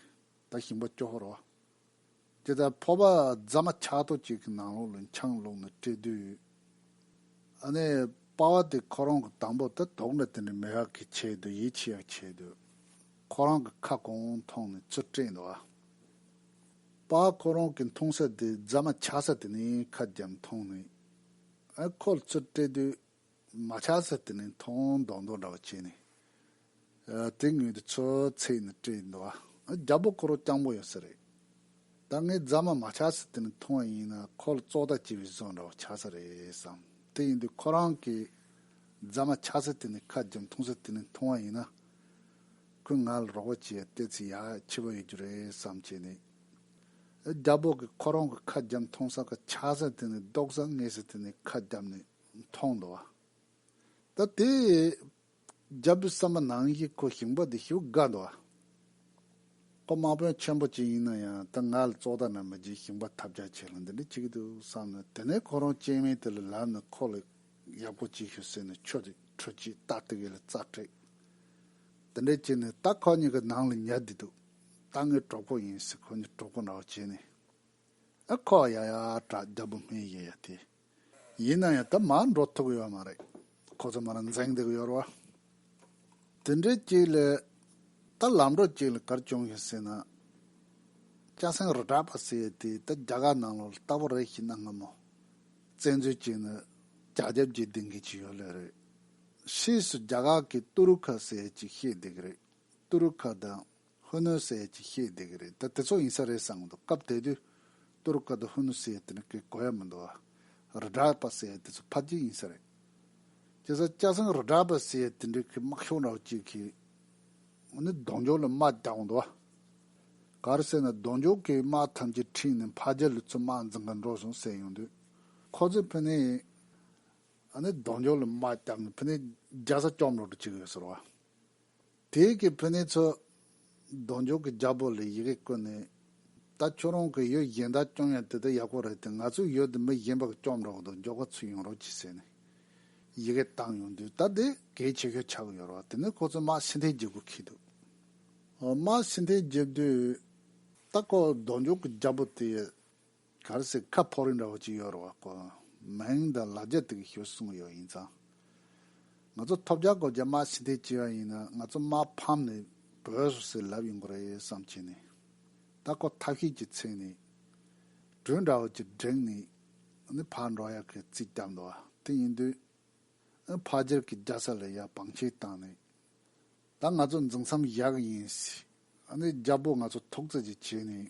ད་ཞིང་པ་སྐྱོ་ཧོར་བ། དེ་ལྟར་ཕོར་པ་རྫ་མ་འཁྱག་ཐོག་ཅིག་གི་ནང་ལོགས་ལ་འཁྱང་ལོག་ནས་བཀྲེས་དུས། ཨ་ནེ་དཔའ་བ་དེ་ཁོ་རང་གི་དང་པོ་ད་དོག་འདྲ་དེ་འདྲ་མི་ཧག་གིས་བྱས་དུས་ཡིད་ཆེས་ཡག་བྱས་དུས། ཁོ་རང་གི་ཁ་གོང་མཐོང་ནས་ཚུར་བཀྲེས་འདུག་ཨ་ཕ་ཁོ་རང་གི་མཐོང་ས་དེ་རྫ་མ་འཁྱག་ས་དེ་ནས་ཁ་རྒྱབ་མཐོང་ནས་ཨ་ཁོ་ལ་ཚུར་བཀྲེས་དུས། མ་ཆགས་ཚེ་དེ་ནས་མཐོང་མདོག་མདོག་འདྲ་བ་བྱས་ནས། དེ་ངོས་དེ་ཚོ་ཚེས་ནས་སྤྲད་ཡིན་འདུག་ཨ། རྒྱ་བོད་ཁོ་རོ་རྐྱང་པོ་ཡོད་ས་རེད། ད་ངས་རྫ་མ་མ་ཆགས་ཚེ་དེ་ནས་མཐོང་བ་ཡིན་ན་ཁོ་ལ་བཙོག་ལྟ་བྱས་པའི་བཟོ་འདྲ་བ་ཆགས་ས་རེད་བསམ། དེ་ཡིན་དུས་ཁོ་རང་གིས་རྫ་མ་ཆགས་ཚེ་དེ་ནས་ཁ་རྒྱབ་མཐོང་ཚེ་དེ་ནས་མཐོང་བ་ཡིན་ན། ཁོས་ང་ལ་རོགས་པ་བྱས་ཡ་བལྟས་ཚེ་ཡག་ཆེ་བ་ཡོད་རྒྱུ་རེད་བསམ་བྱས་ནས། རྒྱ་བོད་ཀྱིས་ཁོ་རང་གི་ཁ་རྒྱབ་མཐོང་ས་ཁ་ཆགས་ས་དེ་ནས་ལྡོག་ས་ངེས་ས་དེ་ནས་ཁ་རྒྱབ་ནས། མཐོང་དོ། ད་དེ་རྒྱབ་པའི་ས་མ་ནང་གི་ཁོ་ཞིང་པ་དེ་ཞིག་དགའ་འདུག་ཨ། ཁོ་དམག་དཔོན་ཆེན་པོ་གཅིག་ཡིན་ན་ཡང་ད་ང་ལ་བཙོག་ད་ན་མི་བརྗེད་ཞིང་པ་ཐབས་རྒྱག་ཆེ་ལ་འདི་འདྲ་བྱེད་ཀྱི་འདུག་བསམ་ནས་དེ་ནས་ཁོ་རང་སྤྱན་མའི་དེ་ལ་ལབ་ནས་ཁོ་ལ་ཡབ་སྒོ་གཅིག་ཞུ་ཟེར་ནས་ཁྱོད་ཀྱི་ཁྲུས་གཅིག་རྟ་དེ་གའི་ལ་རྩ་བྲེག། དེ་འདྲ་བྱས་ནས་ད་ཁོ་གཉིས་ཀྱི་ནང་ལ་ཉལ་བསྡད་འདུག་ད་ངའི་གྲོགས་པོ་ཡིན་ཟེར་ཁོ་གཉིས་གྲོགས་པོ་འདྲ་བོ་བྱས་ནས། ཨ་ཁོ་ཡ་ཡ་བྲག་རྒྱབ་བུ་སྨད་ཡེ་ཡ་དེ། ཡིན་ན་ཡང་ད་མར་འགྲོ་ཐུབ་གི་ཡོད་མ་རེད། ཁོ་ཚོ་མར་འཛེགས་འདུག་ཡོད་རེད། དེ་འདྲའི་གཅིག་ལས། ད་ལམ་འགྲོ་གཅིག་ལ་གར་བྱུང་ཞིག་ཟེར་ན། སྐྱ་སེང་རི་བྲག་པ་ཟེར་ཡོད་དུས་ད་རྒྱ་གར་ནང་ལོགས་ལ་ལྟ་བུ་རེ་ཞིག་གནང་ང་མོ། བཙན་འཛུལ་གཅིག་ནི་རྒྱ་རྒྱབ་ཀྱིས་སྡིང་གི་ཅིག་ཡོད་ལོས་རེད། ཕྱིས་སུ་རྒྱ་གར་གྱིས་ཏུ་རུ་ཁ་ཟེར་ཅིག་ཤེས་བསྡད་ཀྱི་རེད། ཏུ་རུ་ཁ་དང་ཧུ་ནུ་སེ་ཅེས་བཤད་བསྡད་ཀྱི་རེད་ད་དེ་ཚོ་ཡིན་ས་རེད་བསམ་གི་འདུག་སྐབས་དེ་དུས་ཏུར་ཀ་དུ་ཧུ་ནུ་སེ་དེ་ནི་གི་གོ་ཡ་མི་འདུག་ཨ་རི་དྲག་པ་སེ་དེ་ཚོ་ཕ་རྒྱུད་ཡིན་ས་རེད་ཅེས་ས་སྐྱ་སངས་རི་དྲག་པ་སེ་དེ་འདྲའི་གི་དམག་ཤོག་འདྲ་བོ་གཅིག་གི་ནི་གདོང་འཇོག་ལ་དམག་རྒྱག་གི་འདུག་ཨ་ག་རེ་ཟེར་ན་གདོང་འཇོག་གི་དམག་ཐམས་ཅད་ཁྲིད་ནས་ཕ་རྒྱ་ལུ་ཚོ་དམག་འཛིང་ག་འགྲོ་སོང་ཟེར་ཡོང་དུས་ཁོ་ཚོས་ཕི་ནི་ཨ་ནི་གདོང་འཇོག་ལ་དམག་རྒྱག་གི་ཕི་ནི་རྒྱ་ས་སྐྱོབ་འགྲོ་གི་བྱེད་གི་ཡོད་ཟེར་བ། དེ་ཡིག་གི་ཕུ་ནེ་ཚོ། གདོང་འཇོག་གི་རྒྱ་བོར་ལས་ཡི་གེ་བཀོད་ནས། ད་ཁྱོད་རང་གི་ཡོད་གཞན་དག་རྐྱང་ཡང་དེ་ལྟར་ཡག་པོ་རེད་དེ་ང་ཚོའི་ཡོད་དེ་མི་གཞན་པར་རྐྱང་རོགས་གདོང་འཇོག་ག་ཚོད་ཡོང་རོགས་གྱིས་ཟེར་ནས། ཡི་གེ་བཏང་ཡོང་དུས་ད་དེ་གལ་ཆེ་ཤོས་ཆགས་ཡོད་རོགས་དེ་ནས་ཁོ་ཚོས་དམག་ཕྱི་འཐེན་བྱེད་དགོས་ཁེལ་འདུག་དམག་ཕྱི་འཐེན་བྱེད་དུས། ད་ཁོ་གདོང་འཇོག་གི་རྒྱ་བོ་དེ། གར་སའི་ཁ་ཕོག་རིགས་འདྲ་བོ་ཅིག་ཡོད་རེད་བ་ཀོ། མིང་དང་ལག་རྒྱ་དེ་གི་ཞོ་གསུངས་ཡོད་ཡིན་ཙང། ང་ཚོ་ཐོབ་རྒྱ་གོ་རྒྱ་དམར་ཕྱི་མཐའི་སྐྱེ་བ་ཡིན་ན་ང་ཚོ་དམར་ཕམ་ནས་བོད་སོ་སོའི་ལབ་ཡོང་གི་རེད་བསམ་ཁྱེད་ནས། ད་ཁོ་ཐབས་ཤེས་ཀྱི་ཚིག་ནས། སྦྲུལ་འདྲ་བོ་ཅིག་བསྒྲེངས་ནས། ནི་ཕར་འགྲོ་ཡག་གི་རྩིས་བརྒྱབ་འདུག་བ་དེ་ཡིན་དུས། ཨི་ཕ་སྦྱར་གི་རྒྱ་ས་ལས་ཡག་བང་ཆེན་བཏང་ནས། ད་ང་ཚོ་འཛིང་མཚམས་བཞག་གི་ཡིན། ཨཱ་ནི་རྒྱལ་པོ་ང་ཚོ་ཐུགས་བརྩེ་གཅིག་བྱས་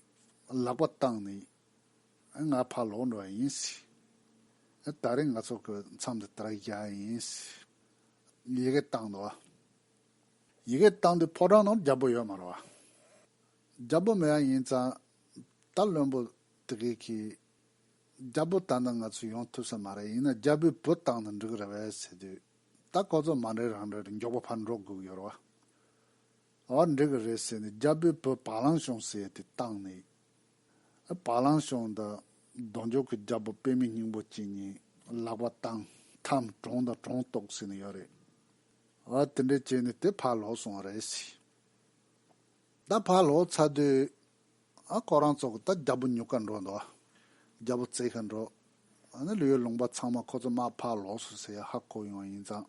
ནས་ལག་པ་བཏང་ནས་ང་ཕར་ལོག་འགྲོ་བ་ཡིན། ད་རེས་ང་ཚོ་གི་མཚམས་འདི་ལྟར་བཞག་གི་ཡིན། ཡི་གེ་བཏང་འདུག་ཨ། ཡི་གེ་བཏང་དུས་ཕོ་བྲང་ནང་རྒྱལ་པོ་ཡོད་མ་རེད་བ། རྒྱལ་པོ་མེད་ཡ་ཡིན་ཙང་ད་བློན་པོ་དེ་གས་ཀྱིས་རྒྱལ་པོ་བཏང་ན་ང་ཚོ་ཡོང་ཐུབ་ས་མ་རེད་ཡིན་ན་རྒྱལ་པོའི་བུ་བཏང་ན་འགྲིག་རེད་བས་ཟེར་དུས། ད་ལྐོག་ཟ་མ་རེད་རང་རེད་མགྱོགས་པོ་ཕར་འགྲོ་དགོས་ཀྱི་ཡོད་རེད་བ། ཨོ་འགྲིག་གི་རེད་ཟེར་ནས་རྒྱ་བོད་བོད་བག་ལང་ཤོང་ཟེར་ཏེ་བཏང་ནས། བག་ལང་ཤོང་དང་གདོང་འཇོག་གི་རྒྱ་བོད་དཔེ་མི་སྙིང་པོ་གཅིག་གཉིས་ལག་པ་བཏང་ཐམ་གྲོངས་དང་གྲོངས་གཏོགས་ཟེར་ནས་ཡོད་རེད། ཨོ་དེ་འདྲས་བྱས་ནས་དེ་ཕར་ལོག་སོང་བ་རེད། ད་ཕར་ལོག་ཚར་དུས། ཨ་ཁོ་རང་ཚོ་ད་རྒྱ་བོ་ཉུག་ག་འགྲོ་འདུག་རྒྱ་བོ་བརྩེ་ག་འགྲོ། ཨ་ནི་ལུས་ཡོད་ལུང་པ་ཚང་མ་ཁོ་ཚོ་དམག་ཕར་ལོགས་སུ་ཟེར་ཡ་ཧ་གོ་ཡོང་བ་ཡིན་ཙང།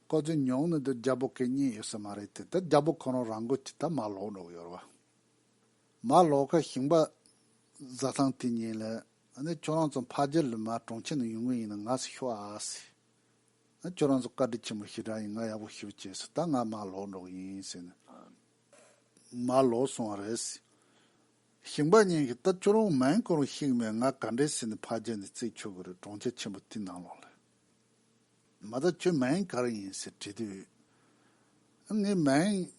ཁོ་ཚོའི་མྱོང་ནི་འདི་རྒྱ་བོ་གས་རྙེད་ཡོད་ས་མ་རེད་དེ་ད་རྒྱ་བོ་ཁོ་རང་རང་འགོ་ཅི་ད་མར་ལོག་འགྲོ་གི་ཡོད་རེད་བ། མར་ལོག་ག་ཞིང་པ་བཟའ་ཚང་དེ་ཉིན་ལ་ཨ་ནི་ཁྱོད་རང་ཚོ་འཕགས་རྒྱལ་ལུས་མ་གྲོང་ཁྱེར་ནས་ཡོང་གི་ཡིན་ན་ང་སུ་ཤོ་ཨ་ཟེར། ཨ་ཁྱོད་རང་ཚོ་བཀའ་དྲིན་ཆེན་པོ་ཞེ་དྲག་ཡིན་ང་ཡག་པོ་ཞུ་བྱས་སུ་ད་ང་མར་ལོག་འགྲོ་གི་ཡིན་ཟེར་ནས། མ་ལོག་སོང་བ་རེད། ཞིང་པ་གཉིས་ཀྱིས་ད་ཁྱོད་རང་མེན་ཀོང་རུ་གཤེགས་ནས་ང་ག་འདྲའི་ཟས་ནི་ཕ་རྒྱལ་ནས་བརྩིགས་ཆོག་གི་རེད་གྲོང་ཁྱེར་ཆེན་པོ་དེའི་ནང་ལོག་ལ། མ་ད་ཁྱོད་མེན་ག་རུ་ཡིན་ཟེར་དྲིས་དུས། ངས་མེན།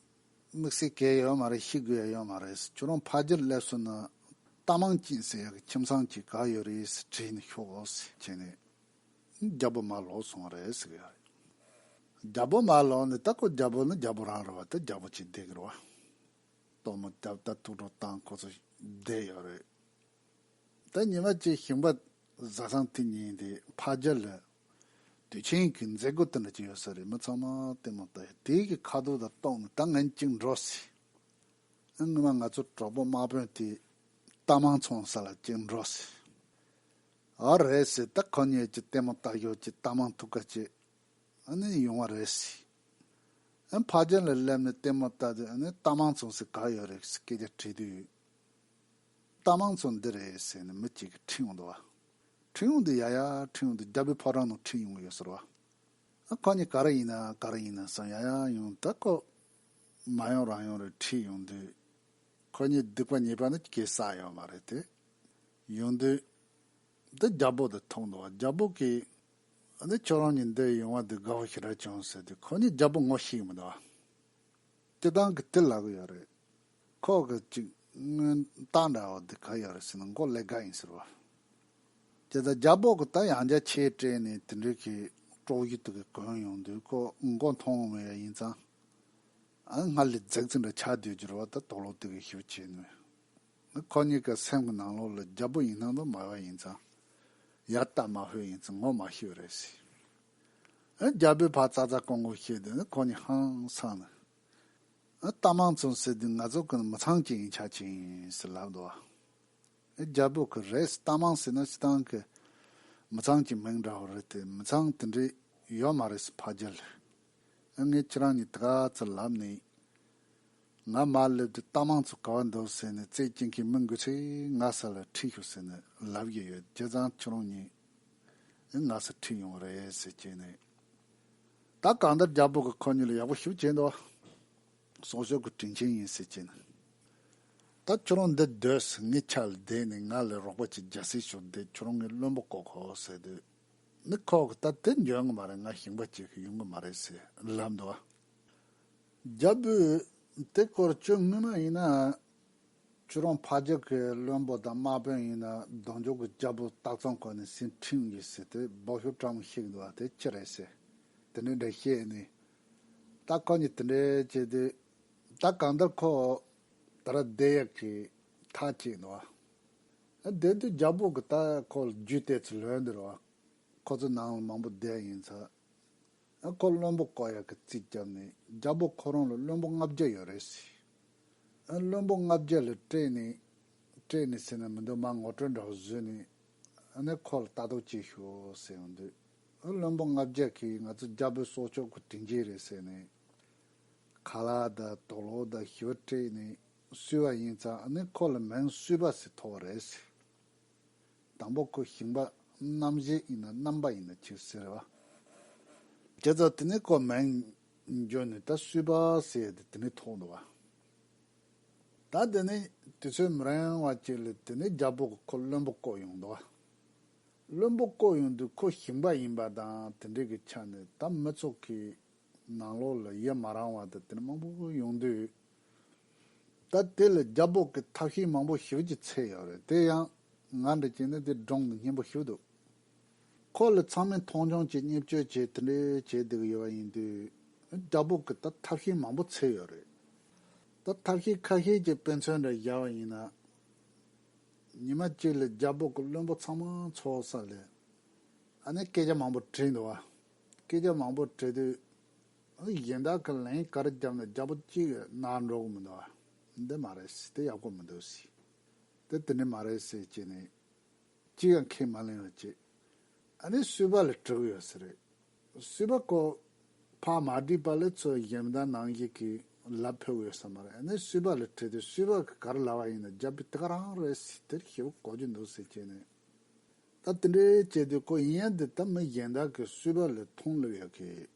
དམིགས་བསལ་གས་ཡོད་མ་རེད་ཤི་དགོས་ཡ་ཡོད་མ་རེད་ཁྱོད་རང་ཕ་རྒྱལ་སླེབས་སོང་ན། རྟ་མང་སྐྱིད་ཟེར་ཡག་གི་ཁྱིམ་ཚང་གཅིག་ག་ཡོད་རེད་ཟེར་དྲིས་ནས་ཤོག་བོ་ཟེར་བྱས་ནས། རྒྱ་བོ་མ་ལོག་སོང་རེད་ཟེར་གྱི་ཡོད་རེད། རྒྱ་བོ་མ་ལོག་ནི་ད་ཁོ་རྒྱ་བོ་ནི་རྒྱ་བོ་རང་རེད་བ་དེ་རྒྱ་བོ་གཅིག་བསྡད་ཀྱི་རེད་བ། གཏོར་མ་རྒྱབ་རྟ་ཐུག་འཕྲོག་བཏང་ཁོ་ཚོ་བསྡད་ཡོད་རེད། ད་ཉི་མ་གཅིག་ཞིང་པ་བཟའ་ཚང་དེ་གཉིས་དེ་ཕ་རྒྱ་ལ་དུས་ཆེན་གྱི་མཛད་སྒོ་དེ་འདྲ་བྱས་ཡོད་ས་རེད་མི་ཚང་མ་ལྟད་མོ་ལྟ་ཡོད་དེ་གི་ཁ་དོག་དང་གཏོང་ནི་ད་ངན་གཅིག་འགྲོ་སྲིད། སྔོན་མ་ང་ཚོ་གྲོགས་པོ་དམག་དཔོན་དེ་རྟ་མང་ཚོང་ས་ལ་གཅིག་འགྲོ་སྲིད། ཨ་རེད་ཟེར་ད་ཁོ་གཉིས་ཀྱི་ལྟད་མོ་བལྟ་ཞོར་གྱི་རྟ་མང་ཐུག་ཀ་ཅེས་ཨ་ནི་ཡོང་བ་རེད་ཟེར། ཨ་ཕ་རྒྱན་ལ་སླེབས་ནས་ལྟད་མོ་བལྟ་དུས་ཨ་ནི་རྟ་མང་ཚོང་ཟིག་ག་ཡོད་རེད་ཟེར་སྐད་ཆ་དྲིས་དུས། རྟ་མང་ཚོང་འདི་རེད་ཟེར་ནས་མི་གཅིག་གིས་ཁྲིད་ཡོང་འདུག་བ། ཁྲིད་ཡོང་དུས་ཡ་ཡ་ཁྲིད་ཡོང་དུས་རྒྱ་བོད་ཕོ་བྲང་ནང་ཁྲིད་ཡོང་གི་ཡོད་ཟེར་བ། ཨ་ཁོ་གཉིས་ག་རེ་ཡིན་ན་ག་རེ་ཡིན་ན་བསམ་ཡ་ཡ་ཡོང་ད་ཁོ་མ་ཡོང་རང་ཡོང་རེད་ཁྲིད་ཡོང་དུས། ཁོ་གཉིས་སྡིག་པ་ཉེས་པ་ནི་གེ་སར་ཡོད་མ་རེད་དེ། ཡོང་དུས། འདི་རྒྱ་སྦོག་དུ་མཐོང་འདུག་རྒྱ་སྦོག་གིས། འདི་ཁྱོད་རང་གཉིས་འདིར་ཡོང་བ་འདི་དགའ་བོ་ཞིག་རེད་བྱུང་ཟེར་དུས་ཁོ་གཉིས་རྒྱ་སྦོག་ངོ་ཤེས་ཀྱི་མི་འདུག་ཨ། སྐྱིད་ཐང་གི་དེ་ལག་ཡོད་རེད། ཁོག་གི་ཅིག་དངོས་རྟགས་འདྲ་བོ་འདི་ག་ཡོད་རེད་ཟེར་ནས་མགོ་ཀླད་དགའ་ཡིན་ཟེར་བ། ཁྱེད་ད་རྒྱ་སྦོག་གི་ད་ཡང་རྒྱ་ཆེ་སྤྲད་ནས་དེ་འདྲའི་གི་ཀྲོག་གཞུ་དེ་གི་གོན་ཡོང་དུས་ཁོ་མགོ་མཐོང་མེད་ཡ་ཡིན་ཙང། ཨ་སྔར་ལས་རྫིག་རྫིག་འདྲ་ཆགས་སྡོད་རྒྱུར་བ་ད་དོག་ལོག་དེ་གི་གཞུ་བྱས་ནུས། ནི་ཁོ་གཉིས་ཀྱི་སེམས་ཀྱི་ནང་ལོགས་ལ་རྒྱལ་པོ་ཡིན་སྣང་དུ་མ་ཡོད་ཡིན་ཙང། ཡར་བལྟ་མ་ཤོད་ཡིན་ཙང་ངོ་མ་ཤེས་པ་རེད་ཟེར། ཨ་རྒྱལ་པོའི་ཕ་ཙག་ཙག་ཀོང་ཀོང་བཤད་དུས་ནི་ཁོ་གཉིས་ཧང་སངས་ནས། ཨ་རྟ་མང་བཙོང་ཟེར་དུས་ང་ཚོ་གི་ནི་མི་ཚང་གཅིག་ཡིན་ཆ་གཅིག་ཡིན་ཟེར་ལབ་འདུག་ཨ་རྒྱལ་པོ་གིས་རེད་ཟེར་རྟ་མང་ཟེར་ན་སྤྱི་བཏང་གི་མི་ཚང་གི་མིང་འདྲ་བོ་རེད་དེ་མི་ཚང་དེ་འདྲའི་ཡོད་མ་རེད་ཟེར་ཕ་རྒྱལ་ལོས། ངས་ཁྱེད་རང་གཉིས་དགའ་ཙི་ལབ་ནི་ཡིན། ང་མར་སླེབས་དུས་རྟ་མང་ཚོ་ག་བ་འདུག་ཟེར་ནས་རྩེད་སྐྱེལ་མཁན་མི་འགུལ་ཚེ་ང་ས་ལ་ཁྲིད་ཤོག་ཟེར་ནས་ལབ་བཞིན་ཡོད་རྗེས་ཚང་ཁྱོད་རང་གཉིས་ང་ས་ཁྲིད་ཡོང་བ་རེད་ཟེར་བྱས་ནས་ད་གང་ལྟར་རྒྱ་བོད་ཀྱི་ཁོ་གཉིས་ལ་ཡག་པོ་ཞུགས་བྱས་འདུག་གསོག་འཇོག་གི་དྲིན་ཆེན་ཡིན་ཟེར་བྱས་ནས་ད་ཁྱོད་རང་འདི་སྡོད་ཟེར་ངས་ཆ་ལ་བསྡད་ནས་ང་ལས་རོགས་པ་ཅིག་རྒྱ་སེ་ཞོར་བསྡད་ཁྱོད་རང་གཉིས་བློན་པོ་བསྐོ་ཁོ་ཟེར་དུས་ནི་ཁོ་གིས་ད་དེ་འཇོན་གི་མ་རེད་ང་ཞིང་པ་བྱེད་ཤི་ཡོང་གི་མ་རེད་ཟེར་ལབ་འདུག། རྒྱལ་པོས། དེ་སྐོར་ཁྱོད་དངུལ་མ་ཡིན་ན། ཁྱོད་རང་ཕ་རྒྱལ་གྱི་བློན་པོ་དང་དམག་དཔོན་ཡིན་ན་གདོང་མཆོང་གི་རྒྱལ་པོ་སྟག་ཚང་དགོན་ནས་ཟིན་བྲིས་ཡོད་ཟེར་ཏེ་སྦག་ཞོ་བཀྲ་མོ་བཤིག་འདུག་བ་དེ་ཅི་རེད་ཟེར། དེ་འདྲའི་འདྲ་བཤད་ནས། ད་ཁོ་གཉིས་དེ་འདྲའི་བྱས་དུས། ད་གང་ལྟར་ཁོ། ད་ར་བསྡད་ཡག་གི། ཐག་བཅད་འདུག་བ། བསྡད་དུས་རྒྱལ་པོ་གི་ད་ཁོ་ལ་རྒྱུས་གཏད་ཚུལ་ལོས་འདིར་བ། ཁོ་ཚོ་ནང་ལ་མང་པོ་བསྡད་ཡིན་ཚ། ཨ་ཁོ་བློན་པོ་ཀོ་ཡར་གྱི་རྩིས་རྒྱབ་ནས་རྒྱ་བོད་ཁོ་རང་ལ་བློན་པོ་ལྔ་བརྒྱ་ཡོད་རེད་ཟེར། ཨ་བློན་པོ་ལྔ་བརྒྱ་ལ་སྤྲད་ནས་སྤྲད་ནས་ཟེར་ན་མི་འདོད་མ་ངོ་སྤྲོད་འདྲ་བོ་བཟོས་ནས་ཨ་ནེ་ཁོ་ལ་ལྟ་རྟོག་བྱས་ཤོག་ཟེར་ཡང་འདོད། ཨ་བློན་པོ་ལྔ་བརྒྱ་གིས་ང་ཚོ་རྒྱ་བོད་སྲོག་ཕྱོགས་ཀྱི་དྲིན་ཅན་རེད་ཟེར་ནས་ཁ་ལག་དང་དོག་ལོག་དང་ཞི་བ་སྤྲད་ནས་བསུས་བ་ཡིན་ཙང་ཨ་ནེ་ཁོ་ལ་མིང་བསུས་པ་ཟེར་ཐོགས་རེད་ཟེར། དང་པོ་ཁོ་ཞིང་པ་རྣམ་བཞི་ཡིན་ན་རྣམ་པ་ཡིན་ན་ཁྱེར་ཟེར་བ། དེ་ཚོ་དེ་ནས་ཁོ་མལ་འགྱོ་ནས་ད་སུས་པ་ཟེར་ཏེ་དེ་ནས་ཐོག་འདུ་བ། ད་དེ་ནས་དེ་ཚོས་མི་རན་བ་ཅིག་ལས་དེ་ནས་རྒྱ་པོ་གི་ཁོ་བློན་པོ་བསྐོ་ཡོང་འདུ་བ། བློན་པོ་བསྐོ་ཡོང་དུས་ཁོ་ཞིང་པ་ཡིན་པ་དང་དེ་འདྲས་ཀྱི་ཆ་ནས་ད་མི་ཚོགས་ཀྱི་ནང་ལོགས་ལ་ཡི་མ་རང་བ་དང་དེ་ནས་མང་པོ་ཡོང་དུས། ད་དེ་ལས་རྒྱ་འབོག་གི་ཐབས་ཤེས་མང་པོ་ཞིག་བགྱི་ཚད་ཡོད་རེད་དེ་ཡང་ང་འདྲ་བྱས་ནས་དེ་སྒྲོང་དུ་སྙན་པོ་ཞུ་འདུག་ཁོ་ལ་ཚང་མས་མཐོང་ཆུང་བྱེད་བརྙས་བཅོས་བྱེད་དེ་འདྲས་བྱས་བསྡད་ཡོད་པ་ཡིན་དུས་རྒྱ་འབོག་གི་ད་ཐབས་ཤེས་མང་པོ་ཚད་ཡོད་རེད་ད་ཐབས་ཤེས་ཁ་ཤས་ཀྱི་དཔེ་མཚོན་འདྲ་བཞག་པ་ཡིན་ན། ཉི་མ་གཅིག་ལ་རྒྱ་འབོག་གི་བློན་པོ་ཚང་མ་ཚོགས་ས་ལས་ཨ་ནེ་སྐད་ཆ་མང་པོ་དྲིས་འདུག་བ་སྐད་ཆ་མང་པོ་དྲིས་དུས་གཞན་དག་གི་ལན་གར་བརྒྱབ་ན་རྒྱ་པོ་གཅིག་གནའ་འགྲོག་མི་འདུག་འདི་མ་རེད་སྲིད་དེ་ཡག་པོ་མི་འདུག་སྲིད་དེ་དེ་འདྲ་མ་རེད་སྲིད་ཅེས་ནས་ཅི་ཡང་ཁས་མ་ལེན་བར་བྱས་ཨ་ནི་སུས་པ་ལ་དྲག་ཡོད་ས་རེད་སུས་པ་ཁོ་ཕག་མ་བསྒྲིགས་པ་ལས་ཚོ་གཞན་མི་དང་ནང་བཞིན་གྱི་ལབ་ཕོད་ཡོད་ས་མ་རེད་ཨ་ནི་སུས་པ་ལ་དྲིས་ཏེ་སུས་པ་གི་གར་ལ་བ་ཡིན་ན་རྒྱ་པོས་དེ་ག་རང་རེད་སྲིད་དེར་ཞེ་པོ་གོ་རྒྱུ་འདུག་སྲིད་ཅེས་ནས་ད་དེ་འདྲ་བྱས་དུས་ཁོ་ཡིན་ཡང་འདི་ད་མི་གཞན་དག་གིས་སུས་པ་ལ་མཐོང་ལབ་ཡོད་གི།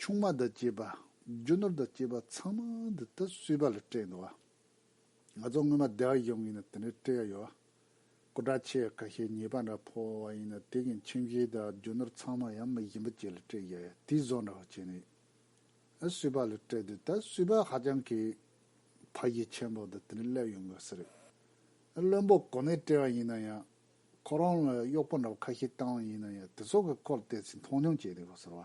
ཆུང་མ་དང་བཅས་པ་རྒྱུ་ནོར་དང་བཅས་པ་ཚང་མ་འདི་ལྟར་གསོས་པ་ལ་སྤྲད་འདུག་བ། ང་ཚོ་སྔོན་མ་བདེ་བ་ཡོང་གིན་ན་དེ་འདྲ་སྤྲད་ཡ་ཡོད། སྐུ་དྲག་ཆེ་བས་ཁ་ཤས་ཉེས་པ་འདྲ་ཕོག་བ་བ་ཡིན་ན་དེ་གིན་ཁྱིམ་གཞི་དང་རྒྱུ་ནོར་ཚང་མ་ཡང་མི་གཞན་པ་བཅས་ལ་སྤྲད་ཡ་ཡོད་དེའི་བཟོ་འདྲ་བ་བྱས་ནས་ཡིན། གསོས་པ་ལ་སྤྲད་དུས་ད་གསོས་པ་ཧ་ཅང་གི་ཕ་ཡིས་ཆེན་པོ་དང་དེ་འདྲ་སླེབས་ཡོང་གི་སི་རེད། བློན་པོ་གོ་ནས་སྤྲད་བ་ཡིན་ན་ཡང་ཁོ་རང་ལ་གཡོག་པོ་འདྲ་བ་ཁ་ཤས་བཏང་བ་ཡིན་ན་ཡང་དེ་ཚོ་གི་སྐོར་བལྟས་ཚེ་མཐོང་ཆུང་བྱས་འདུག་ག་ཟེར་བ།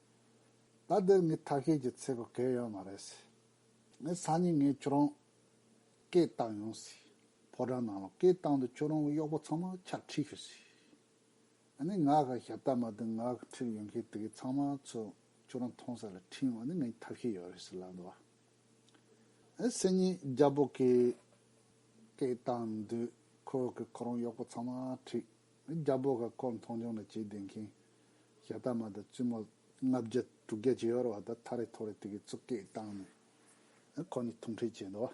ད་འདིར་ངའི་ཐབས་ཤེས་ཀྱི་ཚེ་གོ་གལ་ཡོད་མ་རེད། ངའི་སང་ཉིན་ངས་ཁྱོད་རང་སྐད་བཏང་ཡོང་སྲིད། ཕོ་བྲང་ནང་ལ་སྐད་བཏང་དུས་ཁྱོད་རང་གི་གཡོག་པོ་ཚང་མ་ཕྱག་ཁྲིད་ཞུ་སྲིད། ཨ་ནི་ང་ག་ཞབས་ཏྭ་མ་དུ་ང་ག་ཁྲིད་ཡོང་མཁན་དེ་གའི་ཚང་མ་ཚོ་ཁྱོད་རང་མཐོང་ས་ལ་ཁྲིད་ཡོང་བ་ནི་ངའི་ཐབས་ཤེས་ཡོད་རེད་ཟེར་ལབ་འདུག་ཨ། སང་ཉིན་རྒྱལ་པོ་གིས་སྐད་བཏང་དུས་ཁོ་གི་ཁོ་རང་གཡོག་པོ་ཚང་མ་ཁྲིད། རྒྱལ་པོ་ག་ཁོ་མཐོང་ཆུང་ལ་བྱེད་བདེ་མཁན་ཞྭ་སྟག་མ་དང་བཙུན་མོ་ལྔ་བརྒྱ་དྲུག་བརྒྱ་བྱེ་བར་བ་དང་ཐ་རེ་ཐོ་རེ་དེ་གའི་གཙུག་སྐད་བཏང་ནས། ཁོ་ནི་ཐུག་འཕྲད་བྱས་འདུག